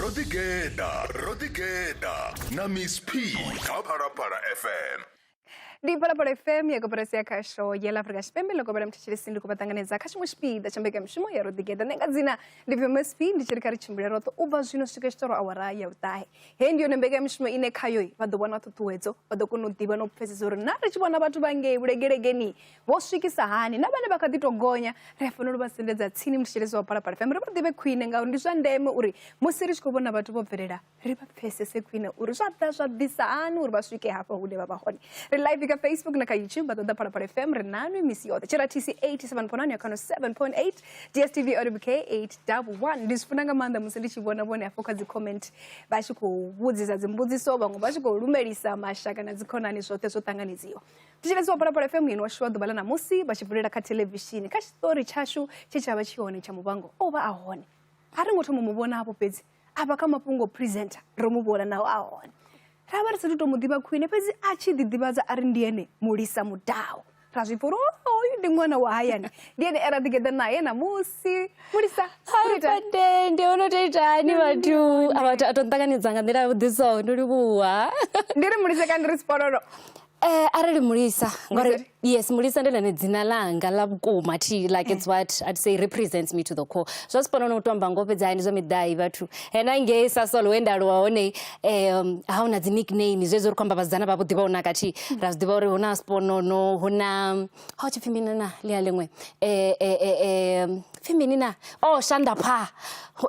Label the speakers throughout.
Speaker 1: ro ḓi geḓa ro ḓi geḓa na miss p kha phalaphala fm ndi
Speaker 2: phalaphala fm ya koporasi ya khasho ya la afrika tshipembe ḽo kopela muthetsheli ndi khou vha ṱanganedza kha tshiṅwe tshipiḓa tsha mbekanyamushumo ya ro ḓi geḓa nṋe nga dzina ndi pfi msp ndi tshi ri kha ri tshimbile roṱhe u bva zwino swika tshi ṱoro awara ya vhuṱahe heyi ndi yone mbekanyamushumo ine khayo vha ḓo vhona ṱhuṱhuwedzo vha ḓo kona u ḓivha na u pfhesesa uri na ri tshi vhona vhathu vha ngei vhulegelegeni Vho swikisa hani na vhane vha kha ḓi tou gonya? Ri a fanela u vha sendedza tsini muthetshelesi wa Phalaphala FM ri vha ḓivhe khwine ngauri ndi zwa ndeme uri musi ri tshi khou vhona vhathu vho bvelela ri vha pfesese khwine uri zwa ḓa zwa ḓisa hani uri vha swike hafha hune vha vha hone ri live kha facebook na kha youtube vha ṱoḓa Phalaphala FM ri nanwi misi yoṱhe tshiratisi 87.9 ya khano 7.8 dstv oribk 811 ndi zwi funa nga maanḓa musi ndi tshi vhona vhone hafho kha dzi comment vha tshi khou vhudzisa dzimbudziso vhaṅwe vha tshi khou lumelisa mashaka na dzikhonani zwoṱhe zwo ṱanganedziwa thetshelesi wa phalaphala fm ino washu wa ḓuvha ḽa ṋamusi vha tshi vulela kha thelevishini kha tshiṱori tshashu tshe tsha vha tshi hone tsha muvhango o vha a hone a ri ngo thoma mu vhona hafho fhedzi a vha kha mafhungo presenter ro mu vhona naho a hone ra vha ri sathu tou mu ḓivha khwine fhedzi a tshi ḓiḓivhadza a ri ndi ene mulisa mudaho ra zwi pfa uri oyu ndi ṅwana wa hayani ndi ene era ḓigeḓa naye ṋamusi mulisa pandende
Speaker 3: o no to itani vhathu a to nṱanganedza nga nḓila ya vhuḓiso ndo livhuwa ndi ri mulisa ka
Speaker 2: ndi ri sipololo Eh, arali
Speaker 3: mulisa ngori yes mulisa ndi lene dzina langa la vhukuma thi like it's what i'd say represents me to the core zwa sipona no tomba ngo fhedza hani zwa midai vhathu hena ngei sa solo we nda lwa hone um ha una dzi nickname zwezwo ri khou amba vhasidzana vha vho ḓivha una kathi ra zwi ḓivha uri huna sponono huna ha u tshi pfhi mini na ḽia ḽiṅwe pfhi mini na o oh, shanda pha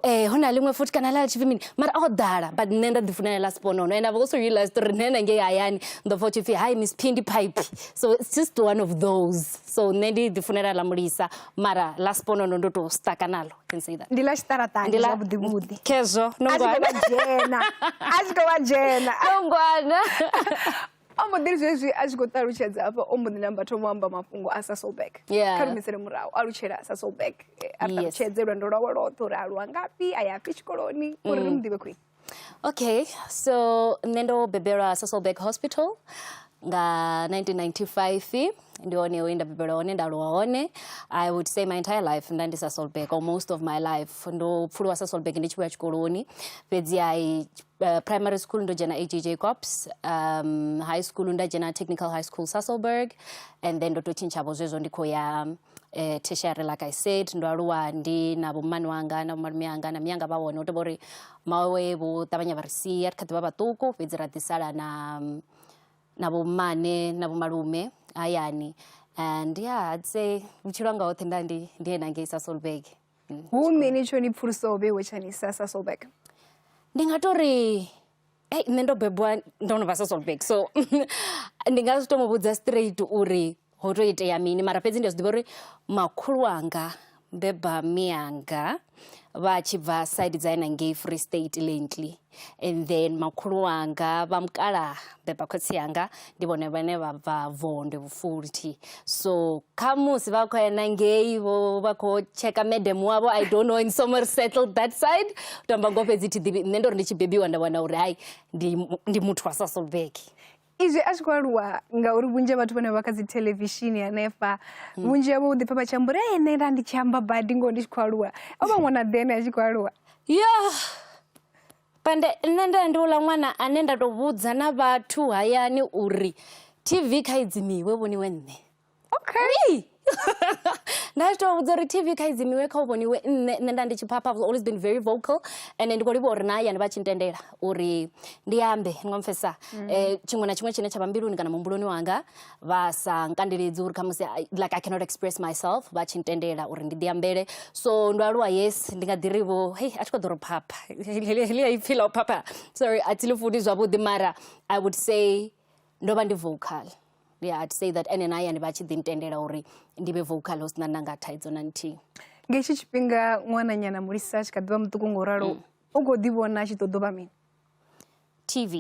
Speaker 3: eh hu na ḽiṅwe futhi kana ḽa tshipfi mini mara o ḓala but nṋe nda ḓi funela ḽa sponono and i've also realized uri nṋe na ngei hayani ndo pfa tshipfi hi miss phindi pipe so it's just one of those so nṋe ndi ḓi funela ḽa mulisa mara ḽa sponono ndo to staka nalo can say that ndi ḽa tshiṱaraṱani zwa vhuḓi
Speaker 2: vhuḓi khezwo no ngwana
Speaker 3: a zwi to vha dzhena a
Speaker 2: zwi to vha dzhena no ngwana o mbo ḓi zwezwi a tshi khou ṱalutshedza hafha o mbo ḓi namba thoma amba mafhungo a sa soulback kha rumisele murahu a lutshela a sa soulback eh, a ṱalutshedze lwendo lwawe lwoṱhe uri a lwa ngafhi a ya fhi tshikoloni uri ri mm. mu ḓivhe khwine okay
Speaker 3: so nṋe ndo bebelwa sa soulback hospital nga 1995 ndi hone we nda bebelwa hone nda aluwa hone i would say my entire life nda ndi sa soulback or most of my life ndo pfuluwa sa soulback ndi tshi vhuya tshikoloni fhedzi i Uh, primary school ndo dzhena ag jacobs um, high school nda dzhena technical high school sasselberg and then ndo to tshintshavo zwezwo ndi khou ya eh, tertiary like i said ndo aluwa ndi na vhomani wanga na vhomalume anga na miyanga vha hone u tovha uri mawe vho ṱavhanya vha ri sia ri kha ḓi vha vhaṱuku fhedzi ra ḓisala na mm, na vhomane na vhomalume hayani and yeah i'd say vhutshilo hanga hoṱhe nda ndi ndi ena ngei sasselberg mm. hu mini
Speaker 2: tsho ni pfulusaho vheiwe tsha ni sa sa solback ndi nga to
Speaker 3: ri ei nṋe ndo bebwa ndo no vha sa solback so ndi nga zwi to mu vhudza straight uri ho to itea mini mara fhedzi ndi a zwi ḓivha uri makhulu wanga beba mianga vha tshi bva side dza ena ngei free state lently and then makhulu wanga vha mukalaha beba khotsi yanga ndi vhone vhane vha bva vondwe vhufulthi so kha musi vha khou ena ngei vho vha khou tsheka madam wavho i don't know in somewhere settled that side u tamba ngo fhedzi thi ḓivhi nṋe ndo ri ndi tshi bebiwa nda wana uri hai ndi muthu wa sasolbek izwi a tshi khou
Speaker 2: aluwa ngauri vhunzhi ha vhathu vhane vha kha dzi thelevishini hanefha hmm. vhunzhi havho u ḓipfa vha tshi amba uri ene nda ndi tshi amba badi ngoho ndi tshi khou aluwa o vha ṅwana ḓene a tshi khou aluwa yo
Speaker 3: pande nṋe nda ndi uḽa ṅwana ane nda tou vhudza na vhathu hayani uri tv kha idzimiwe vhoniwe nṋe okay nda zwi tovha vhudza uri tv kha idzimiwe kha u vhoniwe nṋe nṋe nda ndi tshi phapha was always been very vocal and ndi khou livha uri na hayani vha tshi ntendela uri ndi ambe ni nga mpfesa um mm. eh, tshiṅwe na tshiṅwe tshine tsha vha mbiluni kana muhumbuloni wanga vha sa nkandeledzi uri khamusi like i cannot express myself vha tshi ntendela uri ndi ḓi ambele so ndo aluwa yes ndi nga ḓi ri vho hei a tshi khou ḓo ro phapha helia ipfhi ḽa u phapha sorry a thi ḽi funi zwavhuḓi mara i would say ndo vha ndi vocal yeah i'd say that ene na hayani vha tshi ḓi ntendela uri ndi vhe vocal hu sina nanga thaidzo na nthihi nga hetshi tshifhinga
Speaker 2: ṅwananyana mulisa a tshi kha ḓivha muṱuku nga u ralo mm. u khou ḓi vhona a tshi ṱoḓo vha mini tv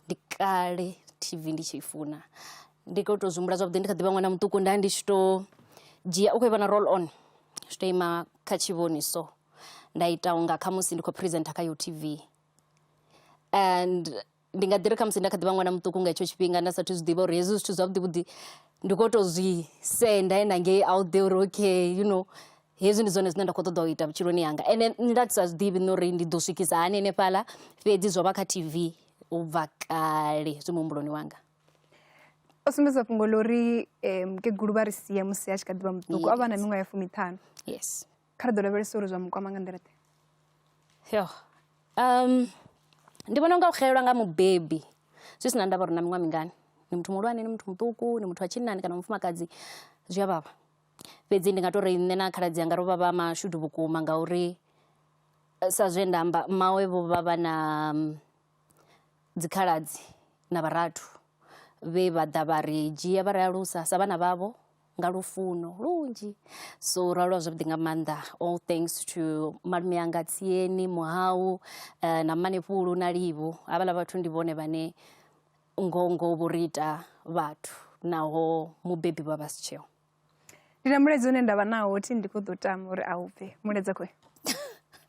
Speaker 3: ndi kale tv ndi tshi funa ndi khou tou zwimbula zwavhuḓi ndi kha ḓivha ṅwana muṱuku nda ndi tshi to dzhia u khou ivha na roll on zwi to ima kha tshivhoni so nda ita unga khamusi ndi khou presenter kha yo tv and ndi nga ḓi ri khamusi nda kha ḓi vha ṅwana muṱuku nga hetsho tshifhinga nda sathu zwi ḓivha uri hezwi zwithu zwavhuḓi vhuḓi ndi kho to zwi senda ena ngei out there uri okay you know hezwi ndi zwone zwine nda kho ṱoḓa u ita vhutshiloni hanga ende nda sa zwi ḓivhi na uri ndi ḓo swikisa hani henefhaḽa fhedzi zwo vha kha tv u bva kale zwi muhumbuloni wanga
Speaker 2: o sumbedza fhungo ḽo uri mukegulu vha ri sia musi a tshi kha ḓi vha muṱuku o vha na miṅwaha ya fumiṱhanu yes kha
Speaker 3: ri ḓo lavhelesa
Speaker 2: uri zwa mukwama nga nḓila ḓe yo
Speaker 3: um ndi vhona unga u xelelwa nga mubebi zwi sina ndavha uri na miṅwaha mingani ni muthu muhulwane ni muthu muṱuku ni muthu wa tshinnani kana mufumakadzi zwi a vhavha fhedzi ndi nga tou ri nṋe na khaladzi anga ro vha vha mashudu vhukuma ngauri eh, sa zwe nda amba mawe vho vha vha na mm, dzikhaladzi na vharathu vhe vha ḓa vha ri dzhia vha ri alusa sa vhana vhavho nga lufuno lunzhi so ralo zwavhuḓi nga maanḓa all thanks to malume anga tsieni muhau uh, na manefhulu na livhu havhala vhathu ndi vhone vhane ngongo vho ri ita vhathu naho mubebi vha vha si tsheo ndi na
Speaker 2: mulezi une ndavha nawo thi ndi kho ḓo tama uri a u bve muleza khoe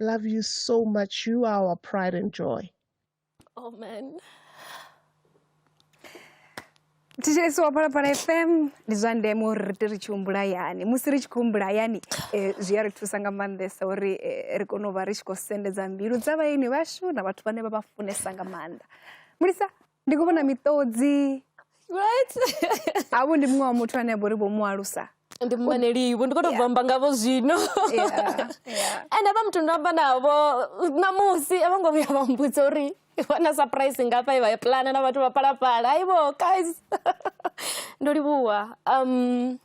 Speaker 4: Love you so much. You are our pride and joy. Amen.
Speaker 2: thetshelesi wa phalaphala fm ndi zwa ndeme uri ri te ri tshi humbula yani musi ri tshi khou humbula yani eh, zwi a ri thusa nga maanḓesa uri eh, ri kone u vha ri tshi khou sendedza mbilu dza vhaeni vhashu na vhathu vhane vha vha funesa nga maanḓa mulisa ndi khou vhona miṱodzi right
Speaker 3: havho ndi
Speaker 2: muṅwe wa muthu ane a vha uri vho mu alusa ndi mumaneliwi
Speaker 3: ndi khou tou bvamba ngavho zwino ende vha muthu ndo amba navho ṋamusi a vho ngo vhuya vha mbudza uri vhona surprise ngafha i vha ya pulana na vhathu vha phalaphala aivo guys ndo livhuwa um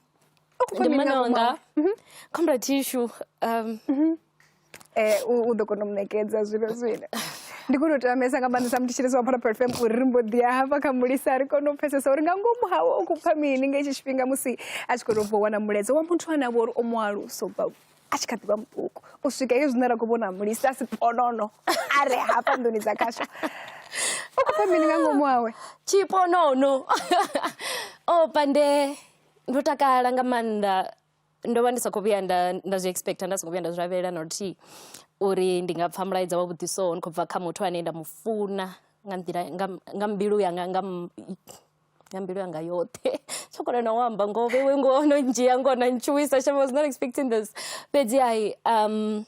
Speaker 3: ndi mmananga mhm. comrade tishu um mhm. Eh,
Speaker 2: u u ḓo kona u mu ṋekedza zwino zwino ndi khou tou tamesa nga maanḓesa muthetshelesi wa phalaphala fm uri ri mbo ḓi ya hafha kha mulisa ri kone u pfesesa uri nga ngomu hawe u khou pfa mini nga hetshi tshifhinga musi a tshi khou tou bva u wana mulaedza wa muthu ane a vha uri o mu alusa u bva a tshi kha ḓi vha muṱuku u swika hezwi zwine ra khou vhona mulisa a si ponono a re hafha nḓuni dza khasho u khou pfa mini nga ngomu hawe tshiponono
Speaker 3: o pande ndo takala nga maanḓa ndo vha ndi sa khou vhuya nda nda zwi expecter nda songo vhuya nda zwi lavhelela na luthihi uri ndi nga pfha mulaedza wa vhuḓi so ndi khou bva kha muthu ane nda mu funa nga nḓila nga nga mbilu yanga nga nga mbilu yanga yoṱhe tsho kona na u amba ngoho vheiwe ngoho no ndzhia ngoho na ntshuwisa shem was not expecting this fhedzi hai um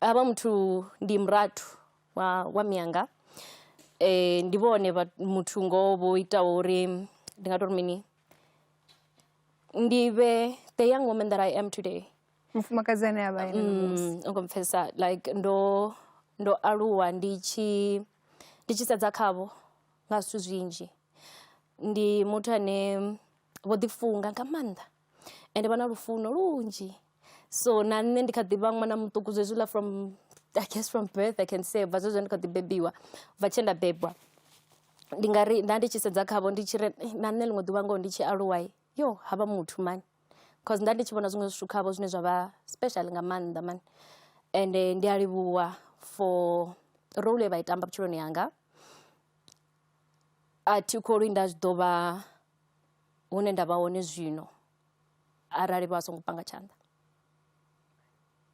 Speaker 3: havha muthu ndi murathu wa wa mianga um ndi vhone muthu ngoho vho itaho uri ndi nga tori mini ndi vhe the young woman that i am today mufumakadzi ane a
Speaker 2: vha ene ṋamusi Mm, u khou mpfhesesa like
Speaker 3: ndo ndo aluwa ndi tshi ndi tshi sedza khavho nga zwithu zwinzhi ndi muthu ane vho ḓifunga nga maanḓa ende vha na lufuno lunzhi so na nṋe ndi kha ḓi vha ṅwana muṱuku zwenezwiḽa from I guess from birth I can say u bva zwezwi ndi kha ḓi bebiwa, u bva tshe nda bebwa. Ndi nga ri nda ndi tshi sedza khavho ndi tshi ri na nṋe ḽiṅwe ḓuvha ngoho ndi tshi aluwa yo ha vha muthu mani cause nda ndi tshi vhona zwiṅwe zwithu khavho zwine zwa vha special nga maanḓa mani. Ende ndi a livhuwa for role ye vha i tamba vhutshiloni hanga, a thi kholwi nda tshi ḓo vha hune nda vha hone zwino. arali vha songo panga tshanḓa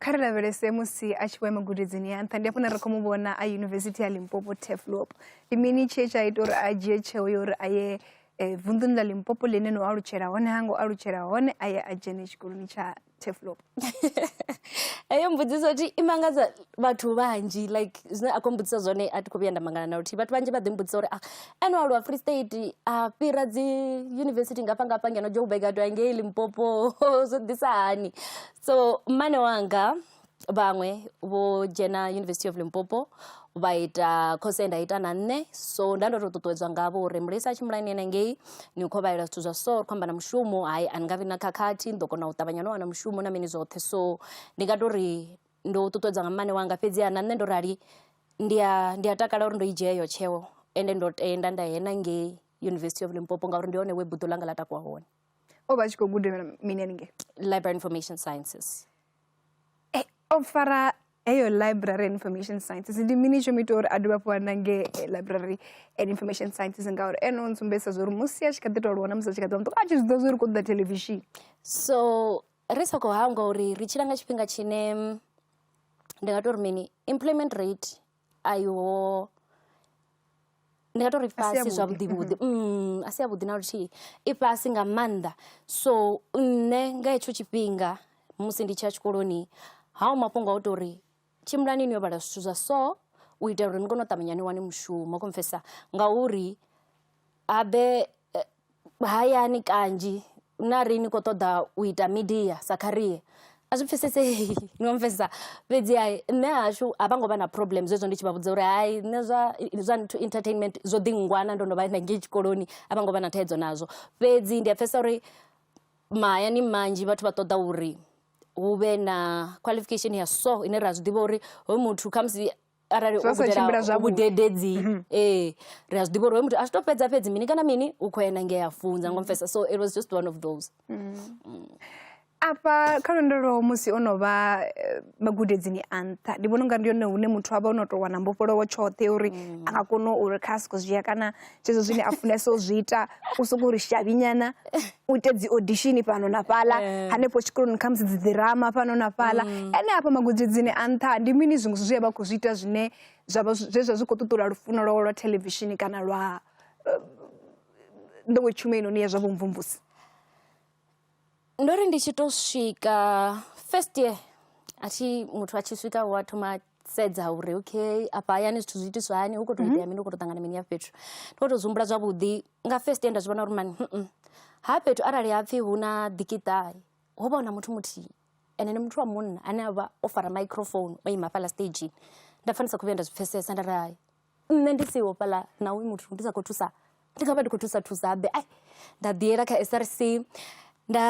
Speaker 2: kha ri lavhelese musi a tshi vho ya magudedzini ya nṱha ndi afho na ri khou mu vhona a yunivesithi ya limpopo teflop ndi mini tshee tsha ita uri a dzhie tsheo ya uri a ye um vunḓuni ḽa limpopo ḽine no alutshela hone ha ngo alutshela hone a ye a dzhene tshikoloni tsha teflop
Speaker 3: Heyo mbudziso thi i mangadza vhathu vhanzhi like zwine a khou mbudzisa zwone a thi kho vhuya nda mangala na luthihi. Vhathu vhanzhi vha ḓi mbudzisa uri ene o aluwa Free State a fhira dzi yunivesithi ngafha ngafha ngeno Joburg a tou ya ngei Limpopo zwo ḓisa hani. So mmane wanga vhaṅwe vho dzhena University of Limpopo vha ita khotsi nda ita na nṋe so nda ndo to ṱuṱuwedzwa ngavho uri mulisa a tshi mulaini yena ngei ni khou vhalela zwithu zwa so ri khou amba na mushumo hai a ni nga vhi na khakhathi ni ḓo kona u ṱavhanya no wana mushumo na mini zwoṱhe so ndi nga to ri ndo ṱuṱuwedzwa nga mmane wanga fhedzi ha na nṋe ndo rali ndi a ndi a takala uri ndo i dzhia iyo tsheo ende ndo tenda nda yena ngei university of limpopo ngauri ndi hone we buḓo ḽanga ḽa takuwa hone o vha a tshi khou guda
Speaker 2: mini haningei library information
Speaker 3: sciences
Speaker 2: o fara eyo library and information sciences ndi mini tsho mu ita uri a dovha hafhu a nange eh, library and information sciences ngauri ene o ntsumbedzisa zwa uri musi a tshi kha ḓi tou lwana musi a tshi kha ḓi muṱuku a tshi zwiḓa zwa uri kho ṱoḓa televishini so
Speaker 3: ri sa khou hangwa uri ri tshila nga tshifhinga tshine mm, ndi nga tou ri mini employment rate ayo ndi nga tori fhasi zwavhuḓi vhuḓi a si a vhuḓi na luthihi i fhasi nga maanḓa so nṋe nga hetsho tshifhinga musi ndi tshi ya tshikoloni haho mafhungo a u tori tshimbilani ni yo vhala zwithu zwa so u itela uri ni kone u ṱavhanya ni wane mushumo kho pfhesesa ngauri. Habe hayani kanzhi na ri ni kho ṱoḓa u ita midia sa kharie a zwi pfhesesei no mpfhesesa fhedzi ha nṋe hashu a vha ngo vha na problem zwezwo ndi tshi vha vhudza uri hai nṋe zwa zwa nthu entertainment zwo ḓi ngwana ndo no vha na ngei tshikoloni a vha ngo vha na thaidzo nazwo fhedzi ndi a pfhesesa uri mahayani manzhi vhathu vha ṱoḓa uri hu vhe na qualification ya so ine ra zwi ḓivha uri hoyu muthu khamusi arali gudela vhudededzi mhm. ee ri a zwi ḓivha uri hoyo muthu a zwi to fhedza fhedzi mini kana mini u khou yena ngea funza ngo mfesa so it was just one of those mhm. mm. afha
Speaker 2: kha lwendo lwo musi o no vha eh, magudedzini a nṱha ndi vhona unga ndi yone hune muthu a vha o no tou wana mbofholowo tshoṱhe uri mm. a nga kona uri kha a siko zwi ya kana zwezwo zwine a funesa u zwi ita u sokou ri shavhi nyana u ite dzi audition fhano na fhaḽa eh. hanefho tshikoloni khamusi dzi ḓirama fhano na fhaḽa mm. ene hafha magudedzini a nṱha ndi mini zwiṅwe zwithu zwi a vha khou zwi ita zwine zwavha zwe zwa zwi khou ṱuṱula lufuno lwawe lwa thelevishini kana lwa eh, nḓowetshumeni hone ya zwa vhumvumvusi ndo
Speaker 3: ri ndi tshi to swika first year a thi muthu a tshi swika wa thoma sedza uri okay afha hayani zwithu zwi itiswa hani hu khou tou itea mini hu khou tou ṱangana mini ya fhethu ndi khou tou zwi humbula zwavhuḓi nga first year nda zwi vhona uri mani ha fhethu arali ha pfhi hu na ḓikiṱahe ho vha hu na muthu muthihi ende ndi muthu wa munna ane a vha o fara microphone o ima hafhaḽa stage nda pfha ndi sa khou vhuya nda zwi pfhesesa nda ri hai. Nṋe ndi siho fhaḽa na hoyu muthu ndi sa khou thusa ndi nga vha ndi khou thusa thusa habe ai nda ḓi yela kha S_R_C nda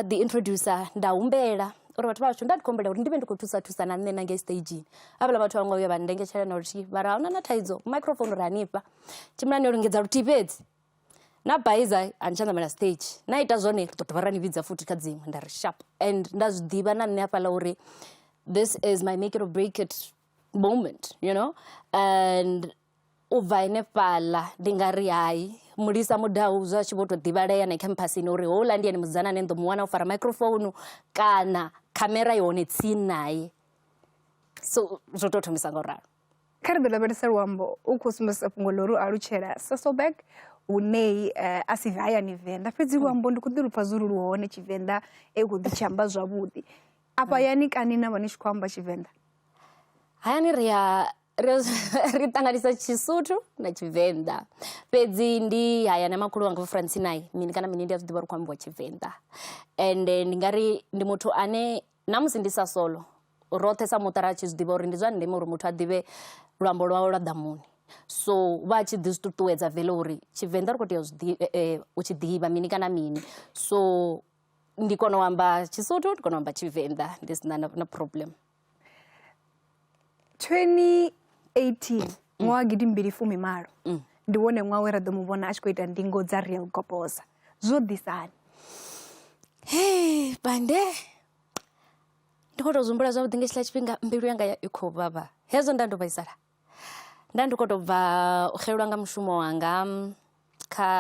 Speaker 3: ḓi introducer nda humbela uri vhathu vha hashu nda ndi khou humbela uri ndi vhe ndi khou thusa thusa na nṋe na ngei stage havhala vhathu a vho ngo vhuya vha ndengetshelesa na luthihi mara ahuna na thaidzo microphone ri hanefha tshimbila no lingedza luthihi fhedzi na baiza a ni tsha ṋamela stage na ita zwone ri ḓo dovha ra ni vhidza futhi kha dziṅwe nda ri sharp and nda zwi ḓivha na nṋe hafhaḽa uri this is my make it or break it. moment you know and u bva henefhaḽa ndi nga ri hai mulisa mudau zwa tshi vho tou ḓivhalea na khamphasini uri houḽa ndi ene musidzana ane nḓo mu wana o fara microphone kana khamera i hone tsini naye so zwo tou thomisa nga u ralo kha ri ḓo lavhelesa
Speaker 2: luambo u khou sumbedzisa fhungo ḽo ri u alutshela sasolberg hunei eh, a si hayani venḓa fhedzi luambo ndi khou ḓi lupfa zwo ri lu hone tshivenḓa e khou ḓi tshi amba zwavhuḓi afha yani kani na vha ni tshi khou amba tshivenḓa hayani
Speaker 3: ri ya ri ṱanganisa tshisuthu na tshivenḓa fhedzi ndi haya na makhulu wanga france naye mini kana mini ndi a zwi ḓivha ri khou ambiwa tshivenḓa ende ndi nga ri ndi muthu ane na musi ndi sa solo roṱhe sa muṱa ra tshi zwi ḓivha uri ndi zwa ndeme uri muthu a ḓivhe luambo lwawe lwa ḓamuni so vha tshi ḓi zwi ṱuṱuwedza vele uri tshivenḓa ri khou tea u eh, eh, tshi ḓivha mini kana mini so ndi kona u amba tshisuthu ndi kona u amba tshivenḓa ndi sina na, na problem 2018
Speaker 2: ṅwaha wa gidi mbili fumi malo ndi wone ṅwaha we ra ḓo mu vhona a tshi khou ita ndingo dza real goposa zwo ḓisani
Speaker 3: Hey, bande ndi khou tou zwi humbula zwavhuḓi nga tshila tshifhinga mbilu yanga ya- i khou vhavha hezwo nda ndo vhaisala nda ndi khou tou bva u xelelwa nga mushumo wanga kha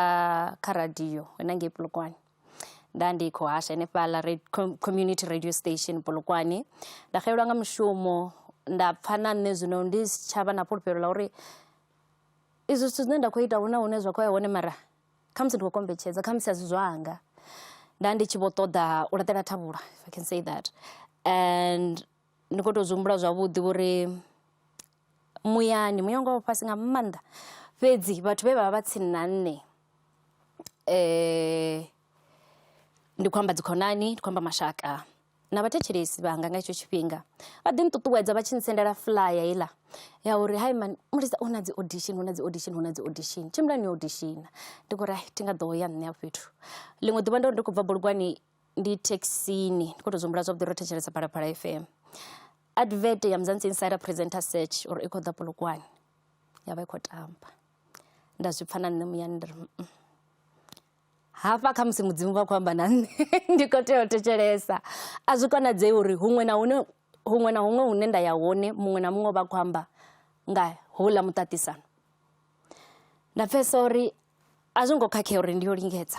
Speaker 3: kha radio hanengei Polokwane nda ndi khou hasha henefhaḽa community radio station Polokwane. Nda xelelwa nga mushumo nda pfha na nṋe zwino ndi si tsha vha na fhulufhelo ḽa uri izwi zwithu zwine nda khou ita hu na hune zwa khou ya hone mara khamusi ndi khou kombetshedza khamusi a si zwanga. Nda ndi tshi vho ṱoḓa u laṱela thavhula if I can say that and. ndi kho to zwi humbula zwavhuḓi uri muyani muya wanga wa fhasi nga maanḓa fhedzi vhathu vhe vha vha vha tsini na nṋe ndi khou amba dzi khonani ndi khou amba mashaka na vhathetshelesi vhanga nga hetsho tshifhinga vha ḓi nṱuṱuwedza vha tshi ntsendela fuḽaya heiḽa ya uri hai mani mulisa hu na dzi audition hu na dzi audition hu na dzi audition tshimbilani yo auditiona ndi khou ri hai thi nga ḓo ya nṋe afho fhethu ḽiṅwe ḓuvha ndo ndi khou bva bulugwani ndi thekhisini ndi kho to zwi humbula zwavhuḓi ro thetshelesa phalaphala F_M advert ya Mzansi Insider presenter search uri i khou ḓa Polokwane ya vha i khou tamba. Nda zwi pfha na nṋe muyani nda ri hafha khamusi mudzimu vha khou amba na nṋe ndi khou tea u thetshelesa. A zwi konadzei uri huṅwe na huṅwe huṅwe na huṅwe hune nda ya hone muṅwe na muṅwe u vha a khou amba nga houḽa muṱaṱisano. Nda pfhesesa uri a zwo ngo khakhea uri ndi yo lingedza.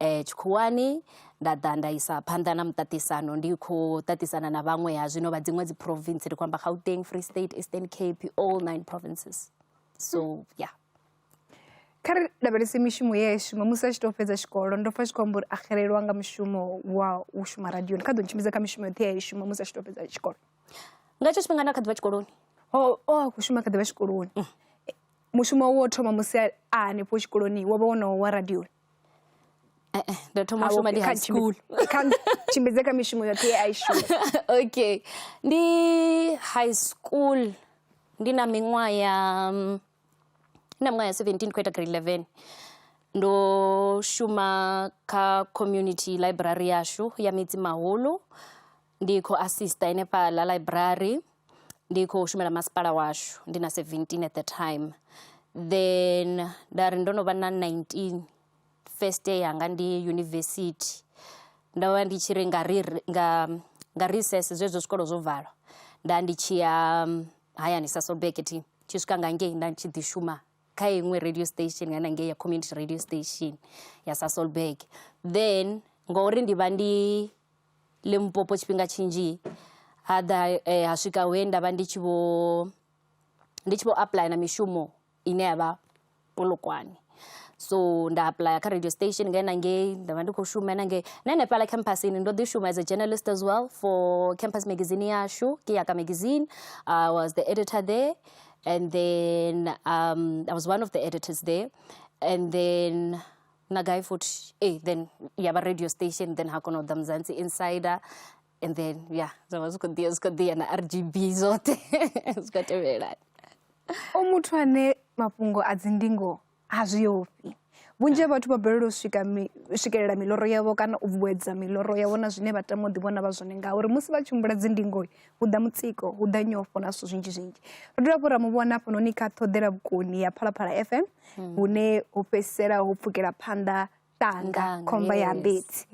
Speaker 3: eh, tshikhuwani nda ḓa nda isa phanḓa na muṱaṱisano ndi khou ṱaṱisana na vhaṅwe ha zwino vha dziṅwe dzi province ri khou amba gauteng free state eastern cape all nine provinces so yeah
Speaker 2: kha ri lavhelese mishumo ye a i shuma musi a tshi tou fhedza tshikolo ndo pfa tshi khou amba uri a xelelwa nga mushumo wa u shuma radioni kha ḓo ntshimbidza kha mishumo yoṱhe ye a i shuma musi a tshi tou fhedza tshikolo nga hetsho tshifhinga
Speaker 3: nda kha ḓivha tshikoloni o oh, o oh, a khou
Speaker 2: shuma kha ḓivha tshikoloni mm. mushumo wo thoma musi a hanefho tshikoloni wo vha wonowo wa radioni Eh,
Speaker 3: eh, ndo thoma u shuma ndi high school tshimbidze
Speaker 2: kha mishumo yoṱhe ye a i shuma okay
Speaker 3: ndi high school ndi na miṅwaha ya mm, na miṅwaha ya 17 ndi khou ita grade 11 ndo shuma kha community library yashu ya midzi mahulu Ndi khou assista henefhaḽa library ndi khou shumela masipala washu ndi na seventeen at the time then nda ri ndo no vha na nineteen first year yanga ndi yunivesithi ndo vha ndi tshi ri nga ri nga nga recess zwezwo zwikolo zwo valwa nda ndi tshi ya hayani Sasolburg thi tshi swika nga ngei nda tshi ḓi shuma kha iṅwe radio station nga ngei ya community radio station ya Sasolburg then ngori ndi vha ndi Limpopo tshifhinga tshinzhi ha ḓa eh, ha swika he nda vha ndi tshi vho ndi tshi vho apuḽaya na mishumo ine ya vha polokwane so nda apuḽaya kha radio station nga enangei nda vha ndi khou shuma enangei na henefhala campusini ndo ḓi shuma as a journalist as well for campus magazine yashu ke yaka magazine i was the editor there and then um, i was one of the editors there and then na gai futhi e then ya vha radio station then ha kona u ḓa muzansi insider and then ya zwa vha zwi khou ḓiya zwi khou ḓiya na r g b zwoṱhe zwi khou tevhelana o
Speaker 2: muthu ane mafhungo a dzindingo ha zwi ofhi vhunzhi ha vhathu vha balelwa u swika swikelela miloro yavho kana u vhuedza miloro yavho na zwine vha tama u ḓivhona vha zwone ngauri musi vha tshi humbula dzindingo hu ḓa mutsiko hu ḓa nyofho na zwithu zwinzhi zwinzhi ro dovha hafhu ra mu vhona hafhanoni kha ṱhoḓela vhukoni ya phalaphala fm hmm. hune ho fhedzisela ho pfukela phanḓa tanga khomba ya mbedzi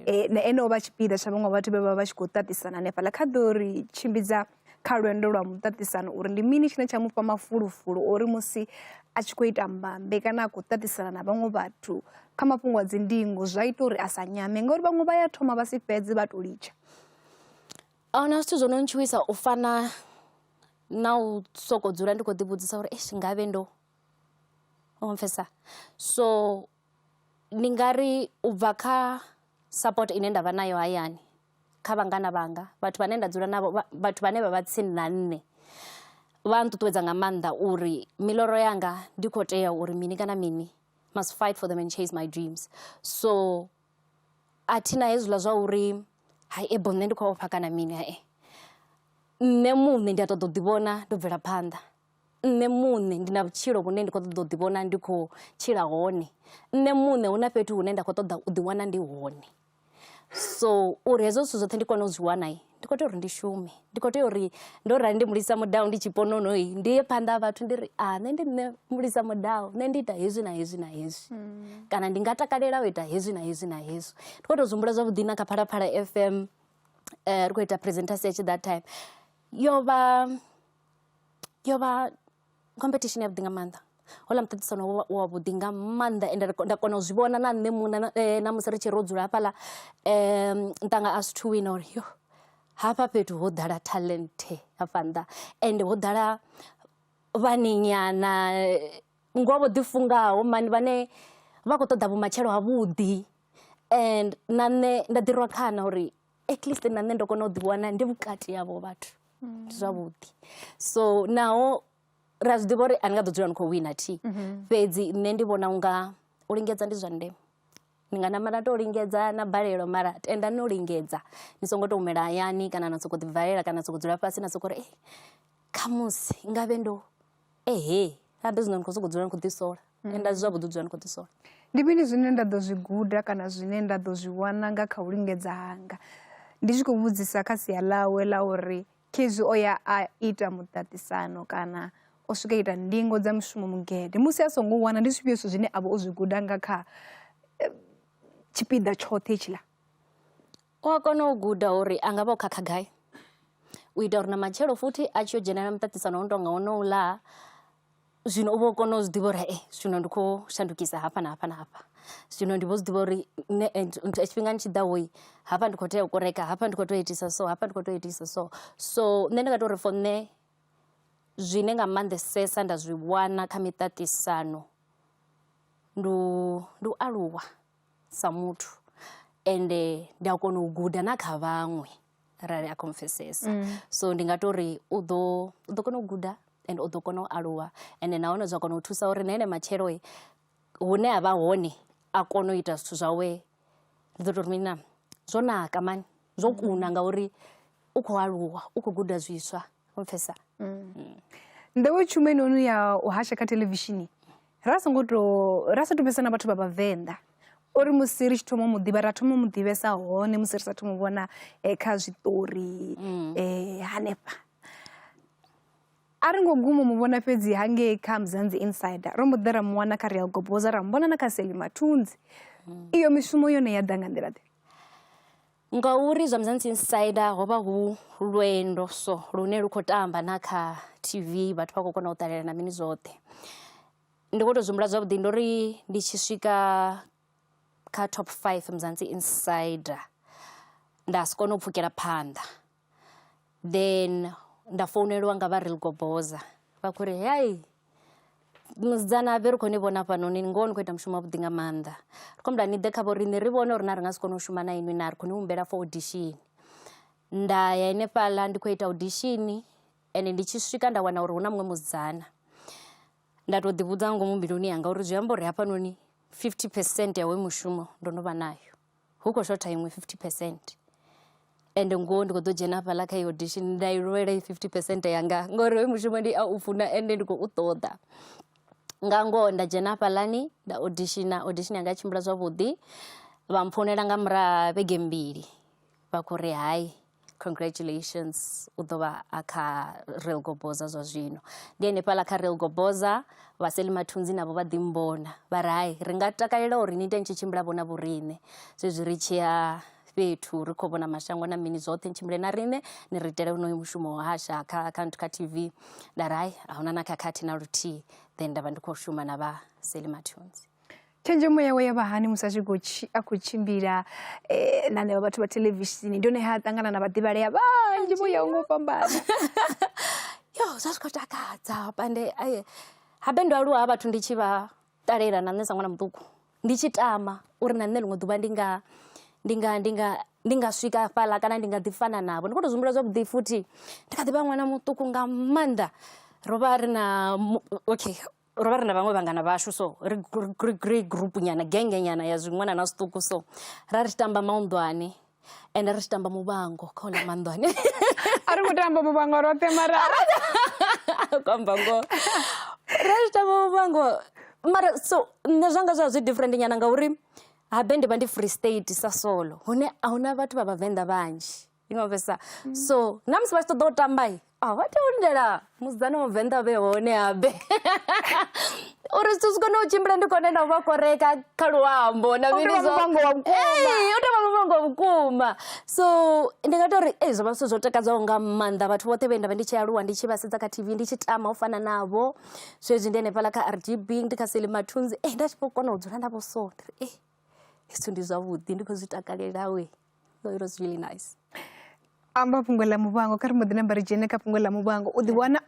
Speaker 2: eh, na ene o vha tshipiḓa tsha vhaṅwe vhathu vhe vha vha tshi khou ṱaṱisana hanefhaḽa kha ḓo ri tshimbidza kha lwendo lwa muṱaṱisano uri ndi mini tshine tsha mufha mafulufulu uri musi a tshi khou ita mbambe kana a khou ṱaṱisana na vhaṅwe vhathu kha mafhungo a dzindingo zwa ita uri a sa nyame ngauri vhaṅwe vha ya thoma vha si fhedze vha to litsha
Speaker 3: ahuna zwithu zwo no ntshuwisa u fana na u soko dzula ndi kho ḓi vhudzisa uri eish ngavhe ndo u pfhesa so ndi nga ri u bva kha support ine ndavha nayo hayani kha vhangana vhanga vhathu vhane nda dzula navho vhathu vhane vha vha tsini na nṋe vha nṱuṱuwedza nga maanḓa uri miḽoro yanga ndi kho tea uri mini kana mini must fight for them and chase my dreams so a thi na hezwiḽa zwa uri hai ebe nṋe ndi khou ofha kana mini hai nṋe muṋe ndi a ṱoḓa u ḓi vhona ndo bvela phanḓa. Nṋe muṋe ndi na vhutshilo vhune ndi kho ṱoḓa u ḓi vhona ndi khou tshila hone nṋe muṋe hu na fhethu hune nda kho ṱoḓa u ḓi wana ndi hone so uri hezwo zwithu zwoṱhe ndi kone u zwi wana. ndi khou tea uri ndi shume ndi khou tea uri ndo rali ndi mulisa mudau ndi tshipononoi ndi ye phanḓa ha vhathu ndi ri a ah, nṋe ndi nṋe mulisa mudau nṋe ndi ita hezwi na hezwi na hezwi mm. kana ndi nga takalela u ita hezwi na hezwi na hezwi ndi khou tou zwi humbula zwavhuḓi na kha phalaphala f m um eh, ri khou ita presentation ya tshi that time yo vha yo vha competition yavhuḓi nga maanḓa houḽa muṱaṱisano wo wa vhuḓi nga maanḓa ende nda kona u zwi vhona na nṋe muṋe na musi ri tshi ro dzula hafhaḽa nṱanga a zwithu wina uri yo hafha fhethu ho ḓala talent hafha nnḓa ende ho ḓala vhani nyana ngoho vho ḓi fungaho mani vhane vha khou ṱoḓa vhumatshelo ha vhuḓi and na nṋe nda ḓi rwa khana uri at least na nṋe ndo kona u ḓi wana ndi vhukati havho vhathu ndi zwavhuḓi so naho ra zwi ḓivha uri a ni nga ḓo dzula ni khou wina thi fhedzi nṋe ndi vhona unga u lingedza ndi zwa ndeme ni nga namela to lingedza na balelwa mara tenda no lingedza ni songo to humela hayani kana na soko ḓi valela kana na soko dzula fhasi na soko ri eh khamusi ngavhe ndo Ehe, a ndi zwino ni khou sokou dzula ni khou ḓisola ende a si zwavhuḓi u dzula ni khou ḓisola. Ndi mini zwine nda
Speaker 2: ḓo zwi guda kana zwine nda ḓo zwi wana nga kha u lingedza hanga? Ndi tshi khou vhudzisa kha sia ḽawe ḽa uri khezwi o ya a ita muṱaṱisano kana o swika ita ndingo dza mushumo mugede musi a songo wana ndi zwifhio zwithu zwine a vha o zwi guda nga kha tshipiḓa tshoṱhe hetshiḽa? U
Speaker 3: a kona u guda uri a nga vha o khakha gai u ita uri na matshelo futhi a tshi yo dzhenelela muṱaṱisano u no tonga wonouḽa zwino u vha o kona u zwi ḓivha uri hee zwino ndi khou shandukisa hafha na hafha na hafha. Zwino ndi vho zwi ḓivha uri nṋe tshifhingani tshiḓaho hafha ndi khou tea u koreka, hafha ndi khou tea u itisa so, hafha ndi khou tea u itisa so. So nṋe ndi nga tou ri for nṋe zwine nga maanḓesesa nda zwi wana kha miṱaṱisano ndi u ndi u aluwa. sa muthu ende ndi a kona u guda na kha vhaṅwe rali a confessesa mm. so ndi nga to ri u ḓo u ḓo kona u guda and u ḓo kona u aluwa ende nahone zwa kona u thusa uri na ene matshelo hune a vha hone a kona u ita zwithu zwawe ndi ḓo to ri mina zwo naka mani zwo kuna ngauri u khou aluwa u khou guda zwiswa u pfesa mm.
Speaker 2: mm. nḓewe tshuma inoni ya u hasha kha televishini ra songo to ra sa to pfesa na vhathu vha vhavenḓa uri musi ri tshi thoma mu ḓivha ra thoma mu ḓivhesa hone musi ri sa thoma vhona eh, kha zwiṱori mm. eh, hanefha a ri ngo guma mu vhona fhedzi hangei kha mzanzi insider ro mu ḓe ra mu wana kha real goboza ra mu vhona na kha seli mathunzi mm. iyo mishumo yone ya ḓa nga nḓila ḓe
Speaker 3: Ngauri zwa Mzansi Insider ho vha hu lwendo so lune lu khou tamba na kha TV vhathu vha khou kona u ṱalela na mini zwoṱhe. Ndi khou tou zwi humbula zwavhuḓi ndo ri ndi tshi swika kha top five Mzansi Insider nda si kone u pfhukela phanḓa. then nda founeliwa nga vha real goboza vha khou ri hei musidzana vhe ri khou ni vhona hafhanoni ngoho ni khou ita mushumo wavhuḓi nga maanḓa ri khou humbula ni ḓe kha vho riṋe ri vhone uri na ri nga si kone u shuma na inwi na ri khou ni humbela for audition nda ya henefhaḽa ndi khou ita audition ende ndi tshi swika nda wana uri hu na muṅwe musidzana nda tou ḓivhudza nga ngomu mbiluni yanga uri zwi amba uri hafhanoni fifty percent ya hoyu mushumo ndo no vha nayo. hu khou shotha iṅwe fifty percent ende ngoho ndi kho ḓo dzhena hafhaḽa kha audition nda i lwela i fifty percent yanga ngori hoyu mushumo ndi a u funa ende ndi khou u ṱoḓa nga ngoho nda dzhena hafhaḽani nda auditiona audition yanga tshimbila zwavhuḓi vha mpfonela nga murahu ha vhege mbili vha khou ri hai congratulations u ḓo vha a kha real goboza zwa zwino ndi henefhaḽa kha real goboza vhaseli mathunzi navho vha ḓimbona vha ri hai ri nga takalela uri ni ite ni tshi tshimbila vhona vhoriṋe zwezwi ri tshi ya fhethu ri khou vhona mashango na mini zwoṱhe ni tshimbile na riṋe ni ri itele unoyo mushumo wa hasha kha kha kha tv nda ri hai a huna na khakhathi na luthihi then nda vha ndi khou shuma na vhaseli mathunzi tshenzhemo yawe
Speaker 2: ya vha hani musi a tshi khou a khou tshimbila eh, na neo vhathu vha theḽevishini ndi hone ha ṱangana na vhaḓivhalea vhanzhi vho yaho ngo fhambana
Speaker 3: yo zwa zwi khou takadza pande habe ndo aluwa ha vhathu ndi tshi vha ṱalela na nṋe sa ṅwana muṱuku ndi tshi tama uri na nṋe ḽiṅwe ḓuvha ndi nga ndi nga ndi nga ndi nga swika fhaḽa kana ndi nga ḓi fana navho ndi khou tou zwimbula zwavhuḓi futhi ndi kha ḓi vha ṅwana muṱuku nga maanḓa ro vha ri na okay ro vha ri na vhaṅwe vhangana vhashu so ri ri group nyana genge nyana ya zwiṅwana na zwiṱuku so ra ri tshi tamba maunḓwane ende ri tshi tamba muvhango kha hula maunḓwane a ri ngo
Speaker 2: tamba muvhango roṱhe mara
Speaker 3: kwamba ngo ra tshi tamba muvhango mara so nṋe zwanga zwa zwi different nyana ngauri habe ndi vha ndi free state sa solo hune a huna vhathu vha vhavenḓa vhanzhi ndi nga pfesesa mm. so na musi vha tshi ṱoḓa u tamba a vha tea u lindela musidzana wa muvenḓa a vhe hone habe uri zwithu zwi kone u tshimbila ndi kone na u vha koreka kha luambo na mini zwo u tovha muvhango wa vhukuma so ndi nga tou ri ei zwo vha zwithu zwo takadzaho nga maanḓa vhathu vhoṱhe vhe nda vha ndi tshi aluwa ndi tshi vha sedza kha tv ndi tshi tama u fana navho zwezwi ndi hanefhala kha rgb ndi kha selimathunzi e nda tshi vho kona u dzula navho so ndi ri e zwithu ndi zwavhuḓi ndi khou zwi takalelau So it was really nice.
Speaker 2: amba fhungo ḽa muvhango kha ri mbo ḓi namba ri dzhene kha fhungo ḽa muvhango u ḓiwana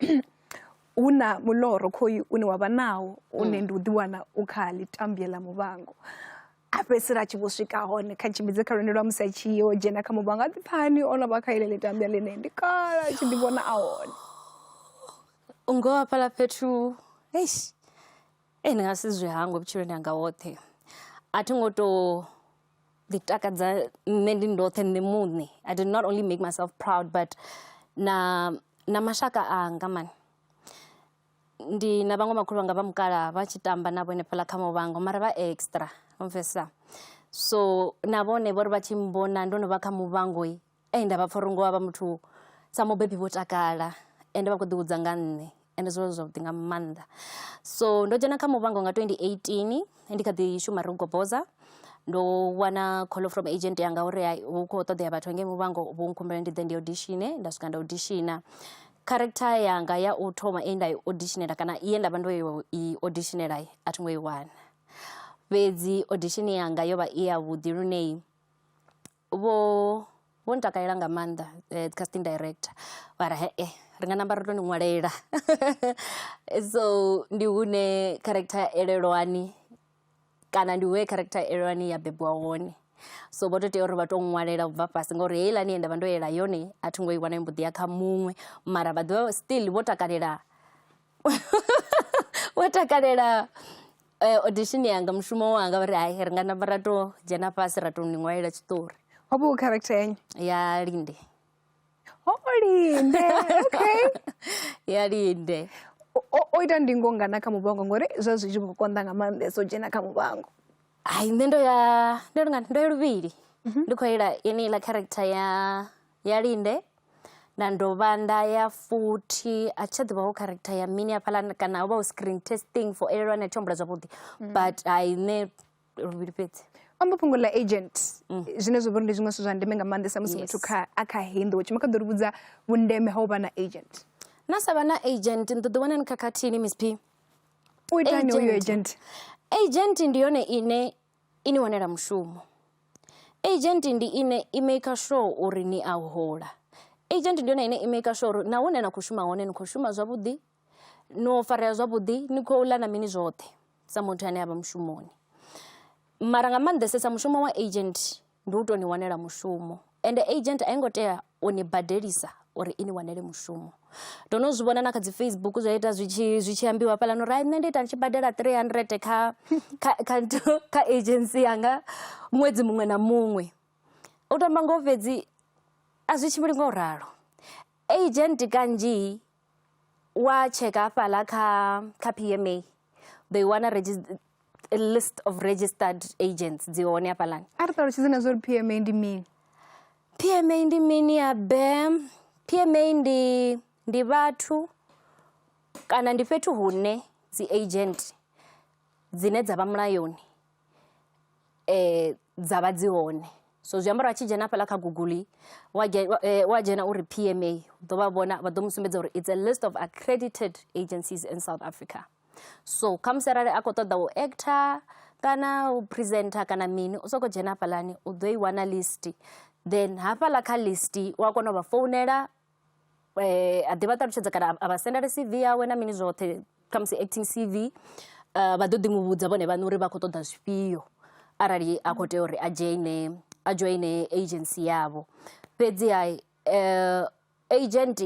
Speaker 2: hu na muloro khoyu une wa vha nawo une mm. ndi u ḓiwana u kha ḽitambie ḽa muvhango a fhedzisela a tshi vho swika hone kha tshimbidze kha lwendo lwa musi a tshi yo dzhena kha muvhango a ḓiphani o no vha kha ile ḽitambia ḽine ndi kala a tshi ḓi vhona a hone
Speaker 3: u ngo hafhaḽa fhethu eish ee ndi nga si zwi hangwe vhutshiloni hanga woṱhe a thi ngo tou ḓi takadza nṋe ndi ndoṱhe nṋe muṋe I did not only make myself proud but na na mashaka anga mani ndi na vhaṅwe makhulu vhanga vha mukala vha tshi tamba navho henefhaḽa kha muvhango mara vha extra wa pfhesesa so na vhone vho ri vha tshi mmbona ndo no vha kha muvhango ende vha pfha uri ngoho havha muthu sa mubebi vho takala ende vha khou ḓihudza nga nṋe ende zwo zwavhuḓi nga maanḓa so ndo dzhena kha muvhango nga 2018 ndi kha ḓi shuma ri goboza ndo wana call from agent yanga uri hu khou ṱoḓea vhathu ngei muvhango vho nkhumbela ndi ḓe ndi auditione nda swika nda auditiona character yanga ya u thoma e nda i auditionela kana ye nda vha ndo i auditionela a thi ngo i wana fhedzi audition yanga yo vha i yavhuḓi lunei Vho vho ntakalela nga maanḓa dzi casting director mara hee ri nga namba ra tou ni ṅwalela so ndi hune character ya elelwani kana ndi hune character ya elelwani ya bebiwa hone. So vho tou tea uri vha tou ṅwalela ubva fhasi ngori heiḽani ye nda vha ndo yela yone a thi ngo i wana yo mbo ḓi ya kha muṅwe mara vha ḓivha still vho takalela. wa takalela audition yanga mushumo wanga vha ri hai ri nga namba ra to dzhena fhasi ra to ni ṅwalela tshiṱori ho vha hu character
Speaker 2: yanyi ya linde
Speaker 3: ho
Speaker 2: linde okay ya
Speaker 3: linde o ita
Speaker 2: ndingo ngana kha muvhango ngori zwa zwi tshi khou konḓa nga maanḓesa u dzhena kha muvhango hai nṋe ndo
Speaker 3: ya ndo lingana ndo ya luvhili mhm. ndi khou ila ine iḽa character ya ya linde nda dovha nda ya futhi a thi tsha ḓivha hu character ya mini hafhaḽa kana ho vha hu screen testing for elelwe ane a thi tsha humbula zwavhuḓi but hai nṋe luvhili fhedzi amba fhungo ḽa
Speaker 2: agent mm. zwine zwa vha uri ndi zwiṅwe zwithu zwa ndeme nga maanḓesa musi muthu kha a kha hindu wo tshima kha ḓo ri vhudza vhundeme ha u vha na agent na sa vha na
Speaker 3: agent ni ḓo ḓi wana ni khakhathini miss p u itani
Speaker 2: uyo agent agent ndi
Speaker 3: yone ine I ni wanela mushumo. Agent ndi ine i maker sure uri ni a hola. Agent ndi yone ine i maker sure uri na hune na khou shuma hone ni khou shuma zwavhuḓi, no farea zwavhuḓi, ni khou ḽa na mini zwoṱhe sa muthu ane a vha mushumoni. Mara nga maanḓesesa mushumo wa agent ndi u tou ni wanela mushumo ende agent a i ngo tea u ni badelisa uri i ni wanele mushumo. Ndo no zwi vhona na kha dzi Facebook zwa ita zwi tshi zwi tshi ambiwa hafhaḽani uri hai nṋe ndi ita ndi tshi badela three hundred kha kha kha kha agency yanga ṅwedzi muṅwe na muṅwe. U to amba ngoho fhedzi a zwi tshimbili ngo ralo agent kanzhi wa tsheka hafhala kha kha pma they wana list of registered agents dzi hone hafhalani a ri ṱalutshedze na zwa uri
Speaker 2: pma ndi mini pma
Speaker 3: ndi mini ya bem pma ndi ndi vhathu kana ndi fhethu hune dzi agent dzine dza vha mulayoni dza vha dzi hone so zwi amba uri a tshi dzhena hafhaḽa kha google wa wa dzhena uri pma u ḓo vha vhona vha ḓo mu sumbedza uri it's a list of accredited agencies in south africa so khamusi arali a khou ṱoḓa u actor kana u presenter kana mini u sokou dzhena hafhaḽani u ḓo i wana list then hafhaḽa kha list wa kona u vha founela eh, a ḓi vha ṱalutshedza kana a vha sendela cv yawe na mini zwoṱhe khamusi acting cv eh, vha ḓo ḓi mu vhudza vhone vhaṋe uri vha khou ṱoḓa zwifhio arali a khou tea uri a dzhoine a dzhoine agency yavho fhedzi ha eh, agent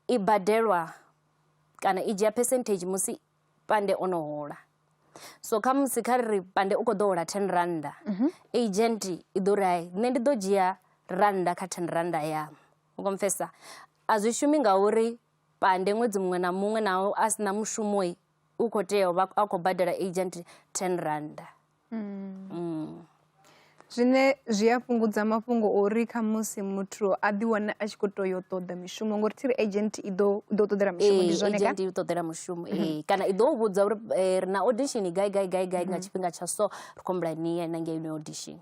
Speaker 3: i badelwa kana i dzhia percentage musi pande o no hola so khamusi kha ri pande u khou ḓo hola ten randa agent i ḓo ri hai nṋe ndi ḓo dzhia randa kha ten randa yamu u khou mpfhesesa a zwi shumi ngauri pande ṅwedzi muṅwe na muṅwe naho a si na mushumo u khou tea u vha a khou badela agent ten rannda mm. mm.
Speaker 2: zwine zwi a fhungudza mafhungo uri kha musi muthu a ḓi wane a tshi khou tea yo ṱoḓa mishumo ngori thiri agent i ḓo ḓo ṱoḓela mushumo ndi zwone agent i ṱoḓela mushumo mhm.
Speaker 3: ee kana i ḓo vhudza uri eh, ri na audition gai gai gai gai nga mhm. tshifhinga tsha so ri khombula ni ye na ngei audition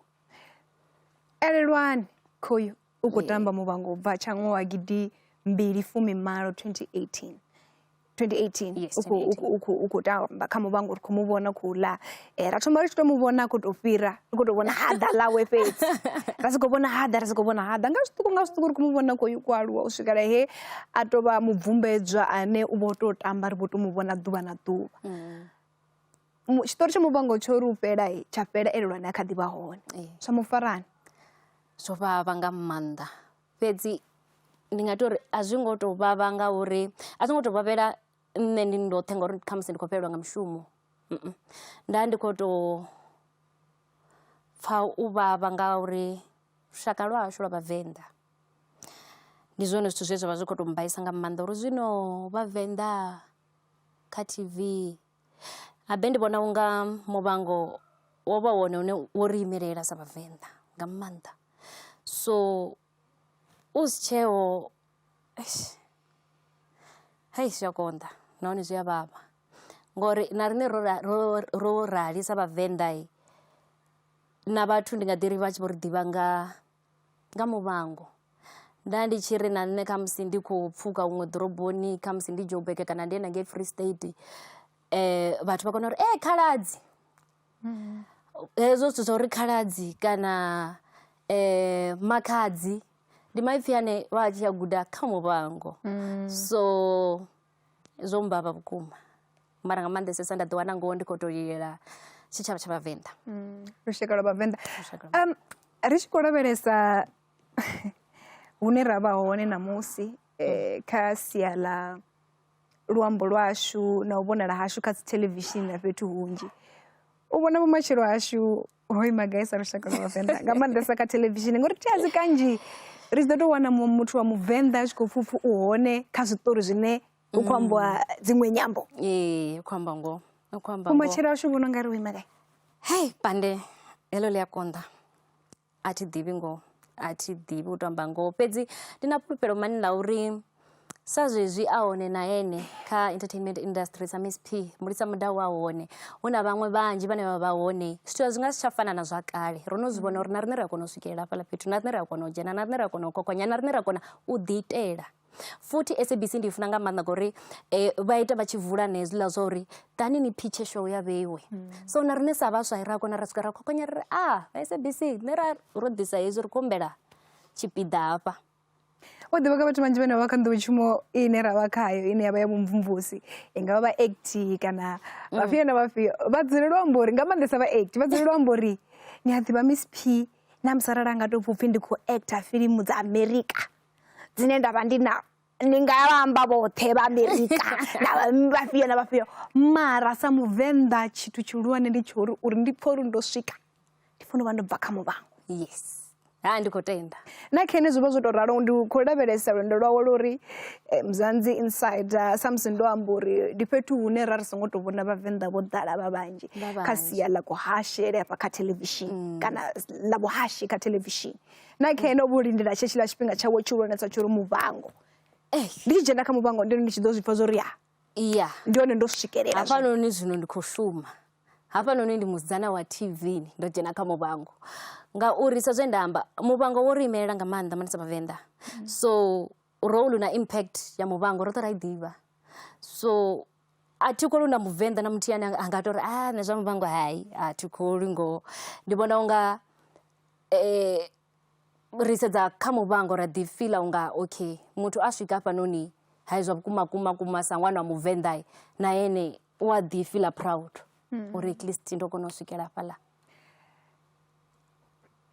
Speaker 2: elelwani khoyu u khou tamba muvhango u bva tsha ṅwaha gidi mbili fumi malo 2018 2018
Speaker 3: u khou
Speaker 2: tamba kha muvhango ri khou mu vhona khou ḽa eh, ra thoma ri tshi tou mu vhona khou tou fhira ri khou tou vhona haḓa ḽawe fhedzi ra si khou vhona haḓa ra si khou vhona haḓa nga zwiṱuku nga zwiṱuku ri khou mu vhona khou ku aluwa u swikela he a tou vha mubvumbedzwa ane u vho tou tamba ri vho tou mu vhona ḓuvha na ḓuvha mm. tshiṱori tsha muvhango tsho ri u fhela tsha fhela ene lwa ne a kha ḓi vha hone zwa mu farani zwo
Speaker 3: vhavha nga maanḓa fhedzi ndi nga ita uri a zwi ngo tou vhavha nga uri a zwi ngo tou vhavhela nṋe ndi ndoṱhe ngauri khamusi ndi khou fhelelwa nga mushumo nda ndi kho to pfha u vhavha nga uri lushaka lwa hashu lwa vhavenḓa ndi zwone zwithu zwe zwavha zwi kho to mbaisa nga maanḓa uri zwino vhavenḓa. kha T_V habe ndi vhona u nga Muvhango wo vha wone une wo ri imelela sa Vhavenḓa nga maanḓa. So u si tsheeho eish hei zwi a konḓa nahone zwi a vhavha ngori na riṋe ro ro ro rali sa Vhavenḓa na vhathu ndi nga ḓi ri vha tshi vho ri ḓivha nga nga Muvhango nda ndi tshi ri na nṋe khamusi ndi khou pfhuka huṅwe ḓoroboni khamusi ndi Joburg kana ndi yone ngei Free State vhathu vha kona uri ee Khaladzi. Hezwo zwithu zwa uri Khaladzi kana Makhadzi ndi maipfhi ane vha tshi a guda kha Muvhango so. Zwo mmbavha vhukuma mara nga maanḓesesa nda ḓi wana ngoho ndi khou tou lilela tshitshavha tsha vhavenḓa lushaka lwa
Speaker 2: vhavenḓa ri tshi khou lavhelesa hune ra vha hone ṋamusi um kha sia ḽa luambo lwashu na u vhonala hashu kha dzi theḽevishini na fhethu hunzhi u vhona vhumatshelo hashu hoi magaisa lushaka lwa vhavenḓa nga maanḓesa kha thelevishini ngori thi a dzi kanzhi ri ḓo tou wana muthu wa muvenḓa a tshi khou pfupfu u hone kha zwiṱori zwine hu khou ambiwa mm. dziṅwe nyambo ee u khou amba
Speaker 3: ngoho u khou amba umatshelo ashu
Speaker 2: vhono nga ri u ima gai hei pande
Speaker 3: heḽo ḽi a konḓa a thi ḓivhi ngoho a thi ḓivhi u tou amba ngoho fhedzi ndi na fhulufhelo mani ḽa uri sa zwezwi a hone na ene kha entertainment industry sa miss p mulisa mudau wa hone hu na vhaṅwe vhanzhi vhane vha vha hone zwithu zwi nga si tsha fana na zwa kale ro no zwi vhona uri na riṋe ri a kona u swikelela hafhaḽa fhethu na riṋe ri a kona u dzhena na riṋe ri a kona u kokonya na riṋe ri a kona u ḓiitela futhi sabc ndi i funa nga maanḓa ngori um vha ita vha tshi vula na hezwiḽa zwa uri ḓani ni phitshe show ya vheiwe so na riṋe sa vhaswa ra kona ra swika ra khokonya ri ri a vha sabc nṋe ra ro ḓisa hezwi ri khou humbela tshipiḓa hafha o ḓivha
Speaker 2: kha vhathu vhanzhi vhane vha vha kha nḓowetshumo ine ra vha khayo ine ya vha ya vhumvumvusi i nga vha vha act kana mm. vhafhio na vhafhio vha dzulela u amba uri nga maanḓesa vha act vha dzulela u amba uri ni a ḓivha miss p na musarala nga tou pfupfi ndi khou acta filimu dza america dzine nda vha ndi na ni nga vha amba vhoṱhe vha america na vhafhio na vhafhio mara sa muvenḓa tshithu tshihulwane ndi tsho uri uri ndi pfha uri ndo swika ndi funa u vha ndo bva kha muvhango yes
Speaker 3: ha ndi khou tenda na khene zwi vha zwo
Speaker 2: tou ralo ndi khou lavhelesa lwendo lwawe lwo uri eh, mzanzi inside ah, samusi ndo amba uri ndi fhethu hune ra ri songo tou vhona vhavenḓa vho ḓala vha vhanzhi Vha kha vhanzhi. sia ḽa kuhashele hafha kha thelevishini kana ḽa vhuhashi kha thelevishini na khene o vho lindela tshe tshiḽa tshifhinga tshawe tshihulwanesa tsho uri muvhango ndi tshi dzhena kha muvhango ndi ri ndi tshi ḓo zwi pfa zwo ri ya iya ndi hone ndo swikelela zwino. hafhanoni zwino ndi khou
Speaker 3: shuma hafhanoni ndi musidzana wa tv ndo dzhena kha muvhango ngauri sa zwe nda amba muvhango wo ri imelela nga maanḓa manisa vhavenḓa so role na impact ya muvhango roṱhe ra i ḓivha so a thi kholi na muvenḓa na muthihi ane a nga tori a nṋe zwa muvhango hai a thi kholi ngoho ndi vhona unga eh, ri sedza kha muvhango ra ḓi fila unga okay muthu a swika hafhanoni hai zwa vhukuma kuma kuma sa ṅwana wa muvenḓa na ene u a ḓi fila proud hmm. uri at least ndo kona u swikela hafhaḽa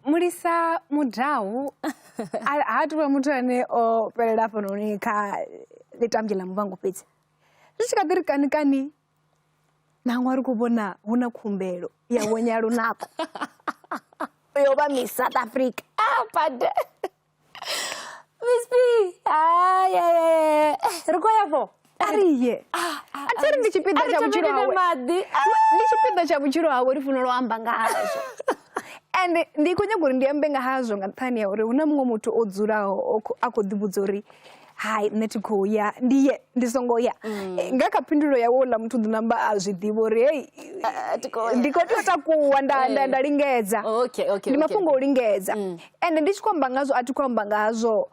Speaker 2: mulisa mudawu ha tuvha muthu ane o fhelela hafhanoni kha ḽitambi ḽa muvhango fhedzi zwi tshi kha ḓi ri kani kani nangwe a ri khou vhona hu na khumbelo ya vhonya lunako yo vha miss south africa ah, bade miss b eh, ri khou ya fo a ri ye ah, ah, a thi ri ndi tshipiḓa tsha vhutshilo hawe ndi tshipiḓa tsha vhutshilo hawe ri funela u amba nga hazwo and ndi khou nyaga uri ndi ambe nga hazwo nga nṱhani ya uri hu na muṅwe muthu o dzulaho a khou ḓivhudza uri hai nṋe thi khou ya ndi ye ndi songo ya mm. eh, nga kha phindulo yawe uḽa muthu ḓi namba a zwi ḓivha uri hei ndi khou tea u takuwa nda nda nda lingedza ndi mafhungo o lingedza mm. ende ndi tshi khou amba ngazwo a thi khou amba ngazwo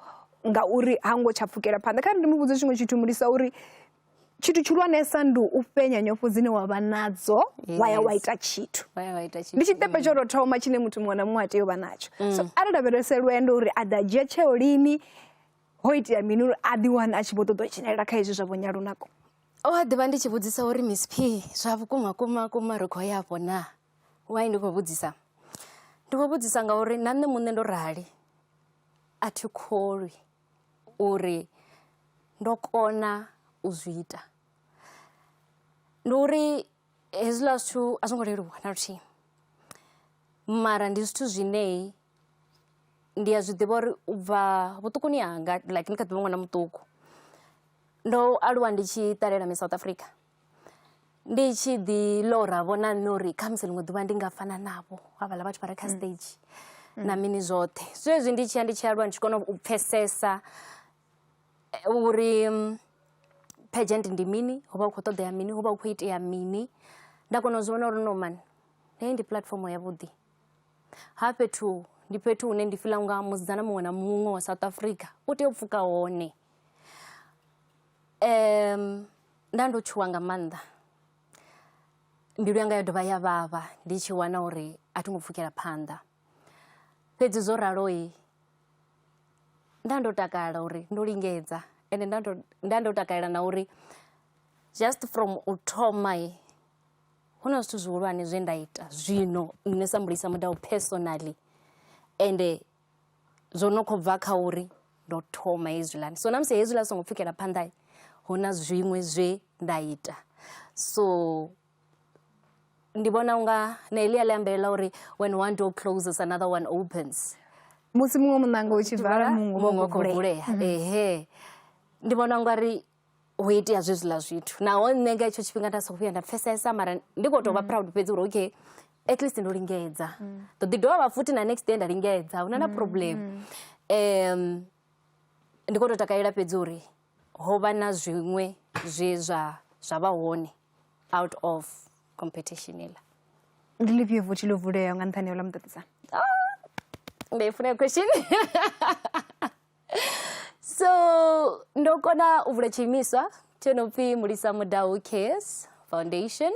Speaker 2: ngauri ha ngo tsha pfukela phanḓa kha ri ndi mu vhudze tshiṅwe tshithu mulisa uri tshithu tshihulwanesa ndi u fhenya nyofho dzine wa vha nadzo wa ya wa ita tshithu ndi tshiṱepe
Speaker 3: tsho tou thoma tshine
Speaker 2: muthu muṅwe na muṅwe a tea u vha natsho so mm. a lavhelese lwendo uri a ḓa dzhia tsheo lini ho itea mini uri a ḓi wane a tshi vho ṱoḓa u dzhenelela kha hezwi zwa vho nyalunako o a ḓivha ndi tshi
Speaker 3: vhudzisa uri miss p zwa vhukuma kuma kuma ri khou ya afho na wai ndi khou vhudzisa ndi khou vhudzisa ngauri na nṋe muṋe ndo rali a thi kholwi uri ndo kona u zwi ita ndi uri hezwiḽa zwithu a zwo ngo leluwa na luthihi mara ndi zwithu zwinei Ndi a zwiḓivha uri u bva vhuṱukuni hanga like ndi kha ḓivha ṅwana muṱuku ndo aluwa ndi tshi ṱalela miss South Africa. Ndi tshi ḓi ḽora vho na nṋe uri khamusi ḽiṅwe ḓuvha ndi nga fana navho havhala vhathu vha re kha stage na mini zwoṱhe. Zwezwi ndi tshi ya ndi tshi aluwa ndi tshi kona u pfhesesa uri pageant ndi mini hu vha hu khou ṱoḓea mini hu vha hu khou itea mini. Nda kona u zwi vhona uri no man heyi ndi puḽatifomo ya vhuḓi. ha fhethu ndi fhethu hune ndi fila unga musidzana muṅwe na muṅwe wa south africa u tea u pfuka hone um nda ndo tshuwa nga maanḓa mbilu yanga yo dovha ya vhavha ndi tshi wana uri a thi ngo pfukela phanḓa fhedzi zwo raloi nda ndo takala uri ndo lingedza ende nda ndo takalela na uri just from u thoma Hu na zwithu zwihulwane zwe nda ita zwino nṋe sa Mulisa Mudau personally ende zwo no kho bva kha uri ndo thoma hezwiḽani. So na musi hezwiḽa zwi songo pfhukela phanḓa hu na zwiṅwe zwe nda ita so ndi vhona unga na heḽia ḽi ambelela uri when one door closes another one opens musi muṅwe
Speaker 2: muṋanga u tshi vala muṅwe u khou vulea
Speaker 3: ehe ndi vhona ungari ho itea zwezwiḽa zwithu naho nṋe nga hetsho tshifhinga nda songo vhuya nda pfesesa mara ndi khou tou vha mm. proud fhedzi uri okay at least ndo lingedza mm. ḓo ḓi dovha vha futhi na next day nda lingedza huna na mm, problem um ndi khou tou takalela fhedzi uri ho vha na zwiṅwe zwe zwa zwa vha hone out of competition iḽa ndi lifhio
Speaker 2: vuthi ḽo vuleaho nga nṱhani ya u ḽa muṱaṱisano ah,
Speaker 3: ndi i funa question so ndo kona u vula tshiimiswa tsho no pfhi mulisa mudau cares foundation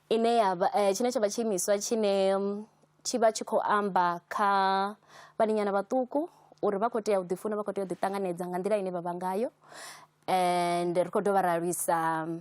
Speaker 3: ine yavha eh, tshine tsha vha tshiimiswa tshine mm, tshi vha tshi khou amba kha vhaninyana vhaṱuku uri vha khou tea u ḓifuna vha khou tea u ḓiṱanganedza nga nḓila ine vha vha ngayo and ri khou dovha ra lwisa mm,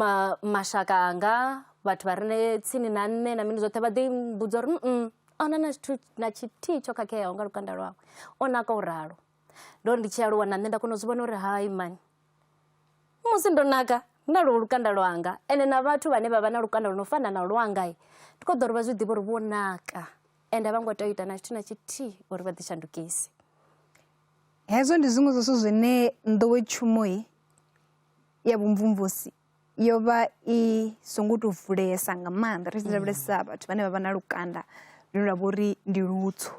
Speaker 3: ma mashaka anga vhathu vha re tsini na nṋe na mini zwoṱhe vha ḓi mbudza uri a hu na na tshithu na tshithihi tsho khakheaho nga lukanda lwawe, o naka u ralo. Ndo ri ndi tshi aluwa na nṋe nda kona u zwi vhona uri hai mani musi ndo naka na lwo lukanda lwanga ende na vhathu vhane vha vha na lukanda lwo no fana na lwanga ndi khou ḓo uri vha zwi ḓivhe uri vho naka ende a vho ngo tea u ita na tshithu na tshithihi uri vha ḓishandukise.
Speaker 2: Hezwo ndi zwiṅwe zwa zwithu zwine nḓowetshumo-i ya vhumvumvusi yo vha i songo tou vulesa nga maanḓa ri tshi lavhelesa vhathu vhane vha vha na lukanda lune lwa vha uri ndi lutswu.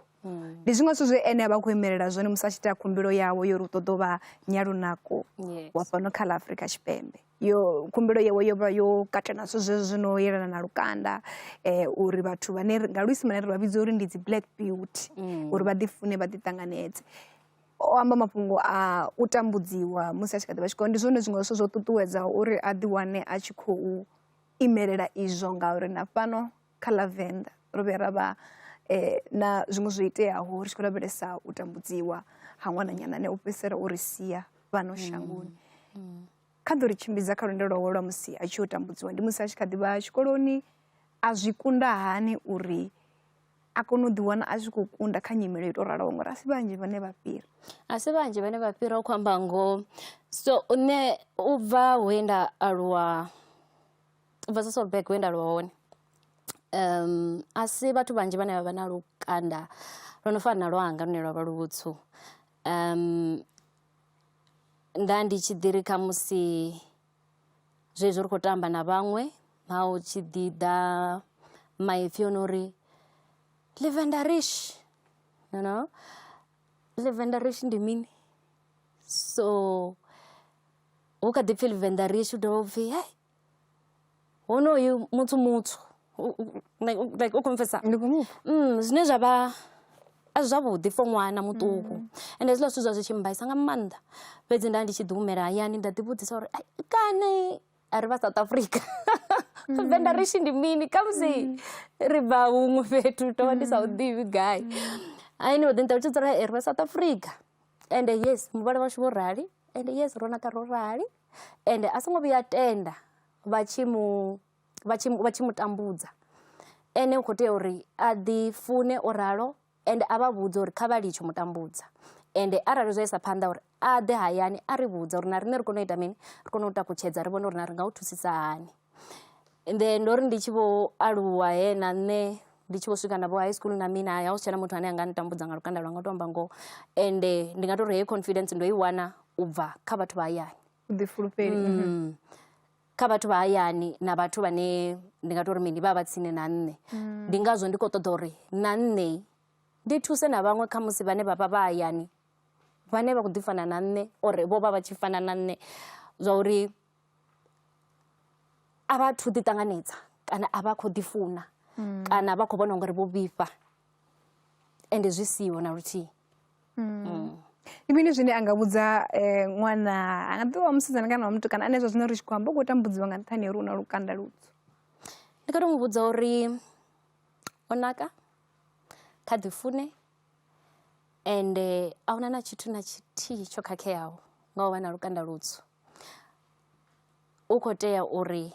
Speaker 2: Ndi zwiṅwe zwithu zwe ene a vha a khou imelela zwone musi a tshi ita khumbelo yawe ya uri u ṱoḓa u vha nyalunako wa fhano kha ḽa Afrika Tshipembe. yo khumbelo yawe yo vha yo katela zwithu zwezwo zwi no yelana na lukanda eh, uri vhathu vhane nga luisimane ri vha vhidza uri ndi dzi black beauty mm. uri vha ḓifune vha ḓiṱanganedze o amba mafhungo a u tambudziwa musi a tshi kha ḓi vha tshikolo ndi zwone zwiṅwe zwithu zwo ṱuṱuwedzaho uri a ḓiwane a tshi khou imelela izwo ngauri na fhano kha ḽa venḓa ro vhuya ra vha um na zwiṅwe zwo iteaho ri tshi khou lavhelesa u tambudziwa ha ṅwananyana ane u fhedzisela uri sia fhano mm. shangoni mm. kha ḓo ri tshimbidza kha lwendo lwawe lwa musi a tshi yo tambudziwa ndi musi a tshi kha ḓivha tshikoloni a zwi kunda hani uri a kone u ḓiwana a tshi khou kunda kha nyimele yo tou raloho ngori a si vhanzhi vhane vha fhira a si vhanzhi vhane
Speaker 3: vha fhira u khou amba ngoho so nṋe u bva he nda aluwa u bva sasolbeg he nda aluwa hone um a si vhathu vhanzhi vhane vha vha na lukanda lwo no fana na lwanga lune lwa vha luvhutswu um nda ndi tshi ḓi ri khamusi zwezwi ri khou tamba na vhaṅwe ha u tshi ḓi ḓa maipfhi o no uri livendarish you know livendarish ndi mini so hu kha ḓi pfhi livendarish hu dovha u pfhi hei Honoyu muthu muthu like u kho mpfhesesa zwine zwa vha a si zwavhuḓi for ṅwana muṱuku ende hezwiḽa zwithu zwa zwi tshi mmbaisa nga maanḓa fhedzi nda ndi tshi ḓi humela hayani nda ḓi vhudzisa uri kana a ri vha South Africa Venḓa ri tshi ndi mini khamusi ri bva huṅwe fhethu ndo vha ndi sa hu ḓivhi gai a ene vha ḓi nṱalutshedza uri ri vha South Africa ende yes muvhala washu vho rali ende yes ro naka ro rali. ende a songo vhuya a tenda vha tshi mu vha tshi vha tshi mu tambudza ene u khou tea uri a ḓi fune o ralo ende a vha vhudze uri kha vha litshe u mu tambudza ende arali zwa isa phanḓa uri a ḓe hayani a ri vhudza uri na riṋe ri kone u ita mini ri kone u takutshedza ri vhone uri na ri nga u thusisa hani. Ende ndo ri ndi tshi vho aluwa he na nṋe ndi tshi vho swika na vho high school na mini ha hu si tshena muthu ane a nga ntambudza nga lukanda lwanga u tou amba ngoho ende ndi nga tou ri heyo confidence ndo i wana u bva kha vhathu vha hayani vhuḓifulufheli mm.
Speaker 2: kha
Speaker 3: vhathu vha hayani na vhathu vhane ndi nga tou ri mini vha vha tsini na nṋe mm. ndi ngazwo ndi khou ṱoḓa uri na nṋe ndi thuse na vhaṅwe kha musi vhane vha vha vha hayani vhane vha khou ḓi fana na nṋe or vho vha vha tshi fana na nṋe zwa uri a vha thu ḓi ṱanganedza kana a vha khou ḓi funa kana vha khou vhona ungari vho vhifha ende zwi siho na luthihi
Speaker 2: ndi mini zwine a nga vhudza um ṅwana a nga ḓivha wa musidzana kana wa mutukana ane zwa zwino ri tshi khou amba u khou tambudziwa nga nṱhani ha uri u na lukanda lutswu ndi nga to
Speaker 3: mu vhudza uri o naka kha ḓi fune ende a hu na na tshithu na tshithihi tsho khakheaho nga u vha na lukanda lutswu. U khou tea uri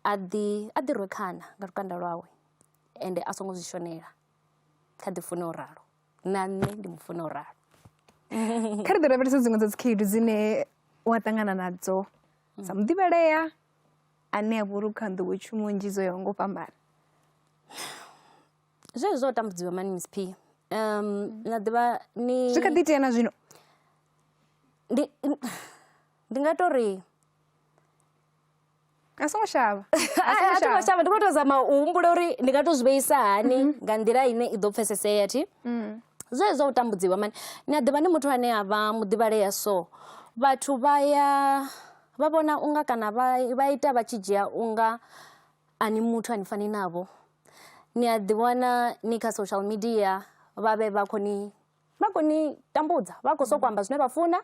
Speaker 3: a ḓi, a ḓi rwe khana nga lukanda lwawe ende a songo zwi shonela, kha ḓi fune o ralo. Na nṋe ndi mu funa o ralo.
Speaker 2: Kha ri ḓi lavhelese dziṅwe dza dzi khaedu dzine wa ṱangana nadzo sa muḓivhalea ane a vha uri u kha nḓowetshumo nnzhi dzo yaho nga u fhambana.
Speaker 3: Zwezwi zwa u tambudziwa mani Miss Phiya na ḓivha ni. Zwi kha ḓi itea na zwino.
Speaker 2: Ndi
Speaker 3: ndi nga to ri.
Speaker 2: A songo shavha. A songo shavha
Speaker 3: ndi kho to zama u humbula uri ndi nga to zwi vheisa hani mhm. nga nḓila ine i ḓo pfesesea thi. Mm. Zwezwi zwa u tambudziwa mani ni a ḓivha ni muthu ane a vha muḓivhalea so vhathu vha ya vha vhona unga kana vha vha ita vha tshi dzhia unga A ni muthu a ni fani navho ni a ḓi wana ni kha social media vha vhe vha khou ni vha khou ni tambudza vha khou sokou amba zwine vha funa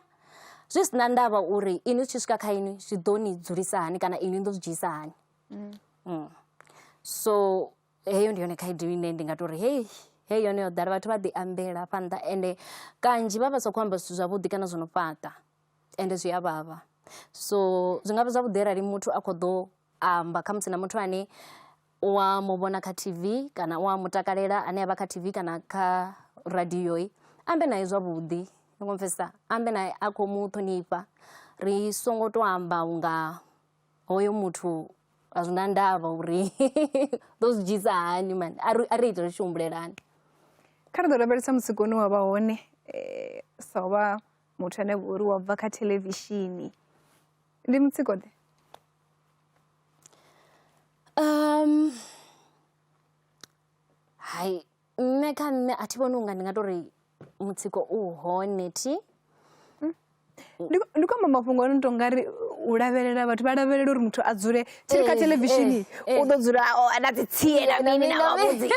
Speaker 3: zwi si na ndavha uri inwi zwi tshi swika kha inwi zwi ḓo ni dzulisa hani kana inwi ni ḓo zwi dzhiisa hani so heyo ndi yone khaedu ine ndi nga tou ri heyi heyi yone yo ḓala vhathu vha ḓi ambela hafha nnḓa ende kanzhi vha vha sa khou amba zwithu zwavhuḓi kana zwo no fhaṱa ende zwi a vhavha so zwi nga vha zwavhuḓi arali muthu a khou ḓo amba khamusi na muthu ane u a mu vhona kha tv kana u a mu takalela ane a vha kha tv kana kha radioi ambe naye zwavhuḓi ni khou mpfesesa ambe naye a khou mu ṱhonifha ri songo to amba unga hoyo muthu a zwi na ndavha uri ḓo zwi dzhisa hani mani a ri ite ri tshi humbulelani kha ri ḓo
Speaker 2: lavhelesa mutsiko une wa vha hone sa u vha muthu ane vha uri wa bva kha thelevishini Ndi mutsiko ḓe
Speaker 3: hai nṋe kha nṋe a thi vhoni unga ndi nga tori mutsiko u hone thi.
Speaker 2: Ndi khou amba mafhungo a no to nga ri u lavhelela vhathu vha lavhelela uri muthu a dzule tsini kha theḽevishini u ḓo dzula a na dzi tsie na mini na vhavhudzi.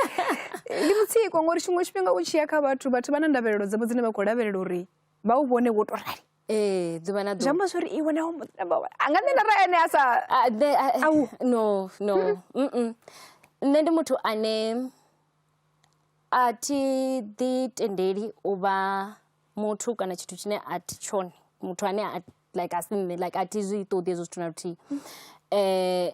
Speaker 2: Ndi mutsiko ngori tshiṅwe tshifhinga u tshiya kha vhathu vhathu vha na ndavhelelo dzavho dzine vha khou lavhelela uri vha u vhone wo to rali. ee ḓuvha na ḓuvha
Speaker 3: amba zwori iwe
Speaker 2: naho
Speaker 3: muḓina
Speaker 2: bawa a nga nṋe ra ene a sa no
Speaker 3: no mm nṋe ndi muthu ane a thi ḓi tendeli u vha muthu kana tshithu tshine a thi tshone muthu ane a like a si nṋe like a thi zwi ṱoḓi hezwo zwithu na luthihi um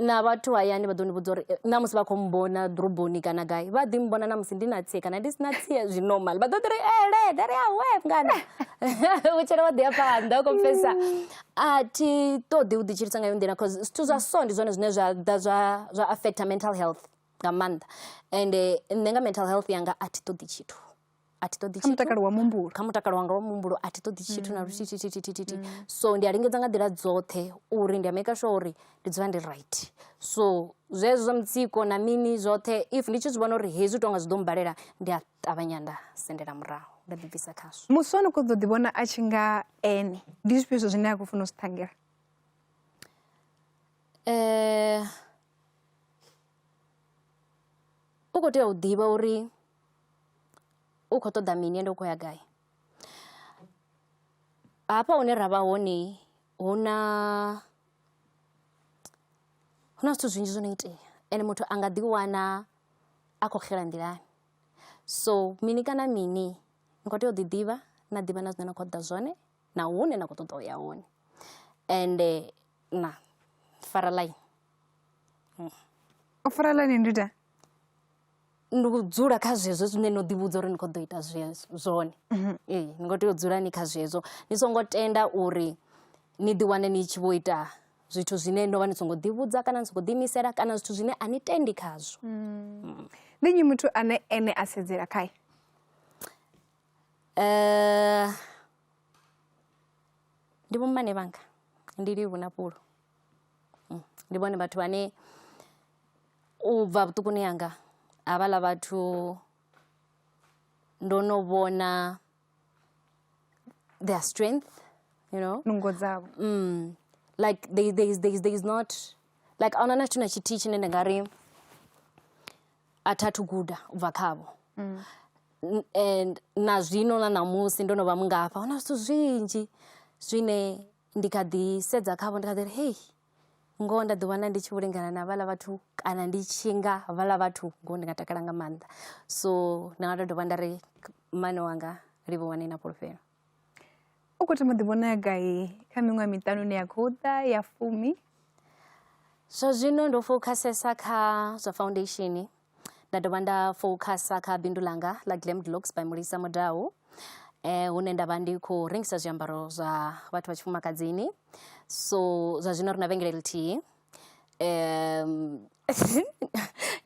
Speaker 3: na vhathu hayani vha ḓo ni vhudza uri na musi vha khou mmbona ḓoroboni kana gai vha ḓi mmbona na musi ndi na tsie kana ndi si na tsie zwi normal vha ḓo ḓi ri ele dare ya we mngana vhutshelo vha ḓi ya phanḓa u confessa a thi ṱoḓi u ḓitshilisa nga yo nḓila cause zwithu zwa so ndi zwone zwine zwa ḓa zwa zwa affecta mental health nga maanḓa ende nṋe nga mental health yanga a thi ṱoḓi tshithu. a thi ṱoḓi kha mutakalo wa muhumbulo kha
Speaker 2: mutakalo wanga wa muhumbulo
Speaker 3: a thi ṱoḓi tshithu na luthihi thithi thithi thithi so ndi a lingedza nga nḓila dzoṱhe uri ndi a maker sure uri ndi dzula ndi right so zwezwo zwa mutsiko na mini zwoṱhe if ndi tshi zwi vhona uri hezwi tonga zwi ḓo mbalela ndi a ṱavhanya nda sendela murahu nda ḓibvisa khazwo musi ono khou ḓo ḓi vhona
Speaker 2: a tshi nga ene ndi zwifhio zwo zwine a khou funa u zwi ṱhangela
Speaker 3: um u khou tea u ḓivha uri u khou ṱoḓa mini ende u khou ya gai. Hafha hune ra vha hone hu na hu na zwithu zwinzhi zwo no itea ende muthu a nga ḓi wana a khou xela nḓilani. So mini kana mini ni khou tea u ḓi ḓivha na ḓivha na zwine na khou ṱoḓa zwone na hune na khou ṱoḓa uya hone. Ende na fara ḽaini.
Speaker 2: U fara ḽaini ndi ita
Speaker 3: ndi u dzula kha zwezwo zwine no ḓi vhudza uri ni kho ḓo ita zwone ee ni kho tea u dzula ni kha zwezwo ni songo tenda uri ni ḓi wane ni tshi vho ita zwithu zwine no vha ni songo ḓi vhudza kana ni songo ḓi imisela kana zwithu zwine a ni tendi khazwo ndi
Speaker 2: nnyi muthu ane ene a sedzela khae
Speaker 3: ndi vho mmane vhanga ndi livhuwa na fhulu ndi vhone vhathu vhane U bva vhuṱukuni hanga havhaḽa vhathu ndo no vhona their strength you know. Nungo dzavho.
Speaker 2: Like
Speaker 3: they they they they is not like a huna na tshithu na tshithihi tshine nda nga ri a tha thu guda u bva khavho. And na zwino na ṋamusi ndo no vha mungafha hu na zwithu zwinzhi zwine. Ndi kha ḓi sedza khavho ndi kha ḓi ri hei ngoho nda ḓi wana ndi tshi vho lingana na vhaḽa vhathu kana ndi tshi nga vhaḽa vhathu ngoho ndi nga takala nga maanḓa so nda nga to dovha nda ri mmane wanga livhuwani na fhulufhelo u
Speaker 2: khou thoma ḓi vhona gai kha miṅwaha miṱanu ine ya khou ḓa ya fumi
Speaker 3: zwa zwino ndo fokhasesa kha zwa foundation nda dovha nda fokhasa kha bindu ḽanga ḽa glammed looks by mulisa mudau eh hune nda vha ndi khou rengisa zwiambaro zwa vhathu vha tshifumakadzini so zwa zwino ri na vhengele ḽithihi um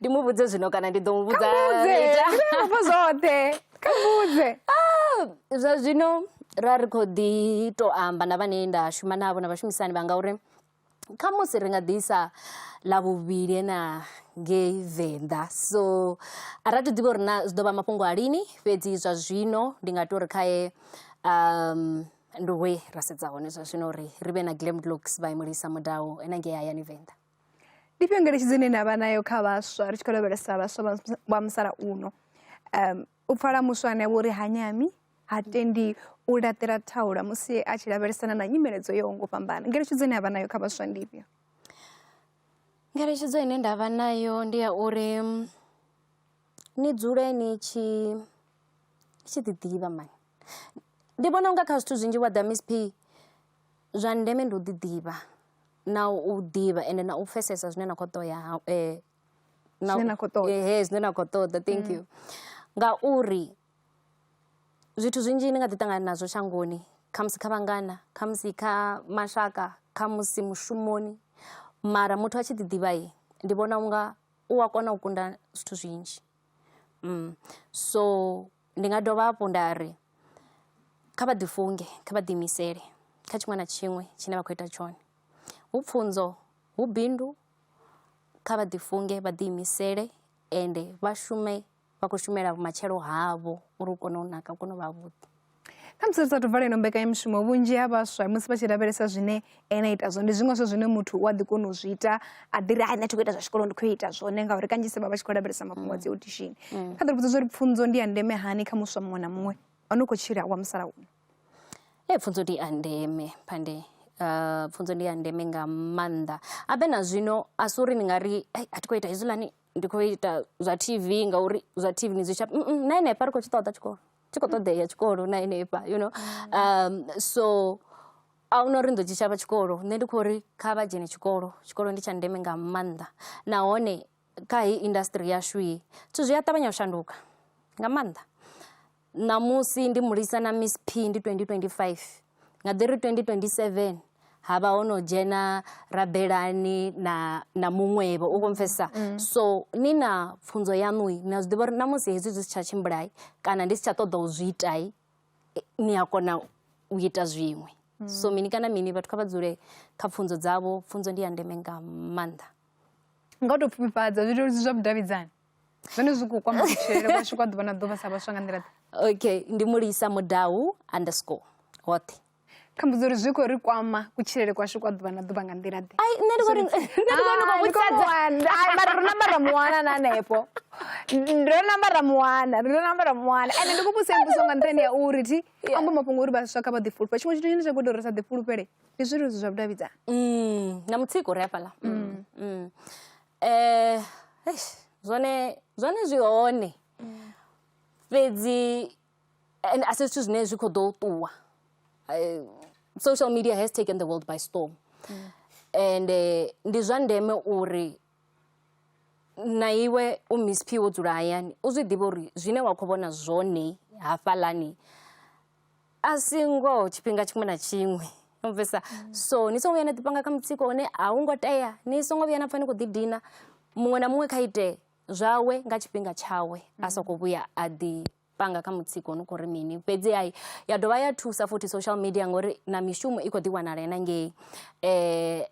Speaker 3: ndi mu vhudze zwino kana ndi ḓo mu vhudza muvhudzeafho zwoṱhe
Speaker 2: kha muvhudze ah, zwa
Speaker 3: zwino ra ri khou ḓi tou amba na vhane nda shuma navho na vhashumisani vha ngauri kha musi ri nga ḓisa ḽa vhuvhili ena ngei venḓa so a ra to ḓivha uri na zwi ḓo vha mafhungo a lini fhedzi zwa zwino ndi nga tori khae um ndi we ra sedza hone zwa zwino uri ri vhe na glam glocks vha imulisa mudawu ena ngei hayani venḓa ndi fhio
Speaker 2: ngeletshedzo ine na vha nayo kha vhaswa ri tshi khou lavhelesa vhaswa vha musalauno um U pfala muswa ane a vha uri ha nyami, ha tendi u laṱela thaula musi a tshi lavhelesana na nyimele dzo yaho nga u fhambana. Ngeletshedzo ine a vha nayo kha vhaswa ndi ifhio? Ngeletshedzo
Speaker 3: ine nda vha nayo ndi ya uri ni dzule ni tshi ni tshi ḓi ḓivha mani. Ndi vhona unga kha zwithu zwinzhi wa ḓa miss Pay zwa ndeme ndi u ḓi ḓivha na u ḓivha ende na u pfhesesa zwine na kho ṱoḓa .
Speaker 2: na, Zwine na khou ṱoḓa. Eh, eh, zwine na khou ṱoḓa thank
Speaker 3: you ngauri zwithu zwinzhi ni nga ḓi ṱangana nazwo shangoni khamusi kha vhangana khamusi kha mashaka khamusi mushumoni mara muthu a tshi ḓiḓivhayi ndi vhona unga u a kona u kunda zwithu zwinzhi mm. so ndi nga dovha hafhu nda ri kha vha ḓifunge kha vha ḓiimisele kha tshiṅwe na tshiṅwe tshine vha khou ita tshone hu pfunzo hu bindu kha vha ḓifunge vha ḓiimisele ende vha shume vha khou shumela vhumatshelo havho uri u kone u naka u kone u vha vhuḓi kha musi ri sathu
Speaker 2: vala ino mbekanyamushumo vhunzhi ha vhaswa musi vha tshi lavhelesa zwine ene a ita zwone ndi zwiṅwe zwa zwine muthu u a ḓi kona u zwi ita a ḓi ri hai nṋe thi khou ita zwa tshikolo ndi khou ita zwone ngauri kanzhisa vha vha tshi khou lavhelesa mafhungo a dzi audishini kha ḓi ri vhudza zwa uri pfunzo ndi ya ndeme hani kha muswa muṅwe na muṅwe o no khou tshila wa musalauno Ee pfhunzo
Speaker 3: ndi a ndeme phande pfhunzo ndi ya ndeme nga maanḓa habe na zwino a si uri ndi nga ri ai a thi khou ita hezwiḽani ndi khou ita zwa T_V ngauri zwa T_V ni zwi shavha na henefha ri khou tshi ṱoḓa tshikolo tshi khou ṱoḓea tshikolo na henefha you know so ahuna uri ni ḓo tshi shavha tshikolo nṋe ndi khou ri kha vha dzhene tshikolo tshikolo ndi tsha ndeme nga maanḓa nahone. kha heyi industry yashu ye zwithu zwi a ṱavhanya u shanduka nga maanḓa ṋamusi ndi mulisa na miss p ndi 2025 nga ḓiri 2027 ha vha ho no dzhena rabelani na na muṅwevho u konfesa mm. so ni na pfunzo yaṋu na zwi ḓivha uri na musi hezwi zwi si tsha tshimbulai kana ndi si tsha ṱoḓa u zwi itai eh, ni a kona u ita zwiṅwe mm. so mini kana mini vhathu kha vha dzule kha pfunzo dzavho pfunzo ndi ya ndeme nga maanḓa
Speaker 2: nga u tou pfufhifhadza zwileludzi zwa vhudavhidzani zwone zwi khou kwama kutshilele kwashu kwa ḓuvha na ḓuvha sa vhaswa nga nḓila okay ndi
Speaker 3: mulisa mudau underscore hoṱhe kha mbudzo uri
Speaker 2: zwi khou ri kwama kutshilele kwashu kwa ḓuvha na ḓuvha nga nḓila ḓe ai nṋe ndi khou ri
Speaker 3: nṋe ndi khou ri khou vhudza ai
Speaker 2: mara ro namba ra muwana na hanefho ro namba ra muwana ro namba ra muwana ende ndi khou vhusa mbuso nga nṱhani ya uri thi amba mafhungo uri vhaswa kha vha ḓifulufhe tshiṅwe tshithu tshine tsha khou ita uri sa ḓifulufhele ndi zwileludzi zwa vhudavhidzani Mm, na mutsiko ri hafhaḽa
Speaker 3: Mm, mm. Eh, eish, zwone zwone zwi hone fhedzi and a si zwithu zwine zwi khou ḓo ṱuwa Eh, social media has taken the world by storm and eh, ndi zwa ndeme uri na iwe u miss p wo dzula hayani u zwi ḓivhe uri zwine wa khou vhona zwone hafhaḽani a si ngoho tshifhinga tshiṅwe na tshiṅwe no bvisa mm. so ni songo vhuya na ḓipanga kha mutsiko une a hu ngo tea ni songo vhuya na pfa ni khou ḓidina muṅwe na muṅwe kha ite zwawe nga tshifhinga tshawe a soko mm. vhuya a ḓi panga kha mutsiko no khou ri mini fhedzi ai ya dovha ya thusa futhi social media ngori na mishumo i khou ḓi wanala na ngei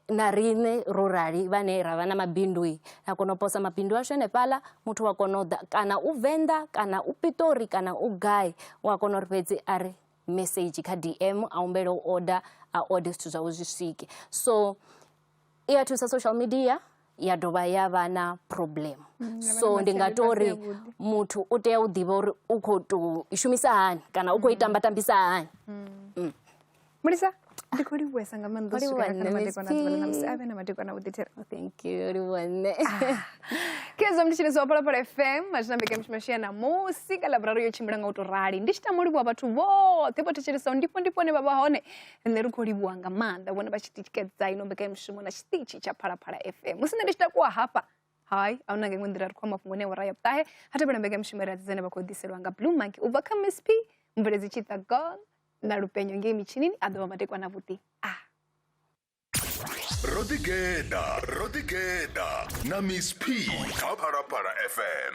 Speaker 3: na riṋe ro rali vhane ra vha na mabindu ra kona u posa mabindu ashu henefhaḽa muthu wa kona u ḓa kana u venḓa kana u piṱori kana u gai u a kona uri fhedzi a ri mesedzhi kha D_M a humbele u order a order zwithu zwawe zwi swike so i a thusa social media. ya dovha ya vha na problem mm, so ndi nga to ri muthu u tea u ḓivha uri u khou tou i shumisa hani kana u khou i mm. tamba tambisa hani mm.
Speaker 2: mulisa ndi khou livhuwesa nga maanḓa usukaaamadekwanaamusi a vhe na madekwana vhuḓithera oh, thank you livhuwa
Speaker 3: nṋe ah.
Speaker 2: kezo mnditshiniso wa phalaphala fm azwi na mbekanyamushumo yashu ya namusi ka laborari yo tshimbila nga u to rali ndi tshi tamo livhuwa vhathu vhoṱhe vho thetshelesao ndifho ndifho hone vha vha hone nṋe ri khou livhuwa nga maanḓa vhone vha tshi tikedza ino mbekanyamushumo na tshiṱitshi tsha phalaphala fm musi nṋe ndi tshi takuwa hafha hai a huna nga iṅwe nḓila ri khou mafhungo ne awara ya vhuṱahe ha tevhela mbekanyamushumo ri adzedzane vha khou ḓiselwa nga blue monkey u bva kha miss p mveledzi tshiṱa gol na lupenyo ngei mitshinini a ḓovha matekwa na vhuḓi a ah.
Speaker 1: ro ḓigeḓa ro ḓigeḓa na miss p kha phalaphala fm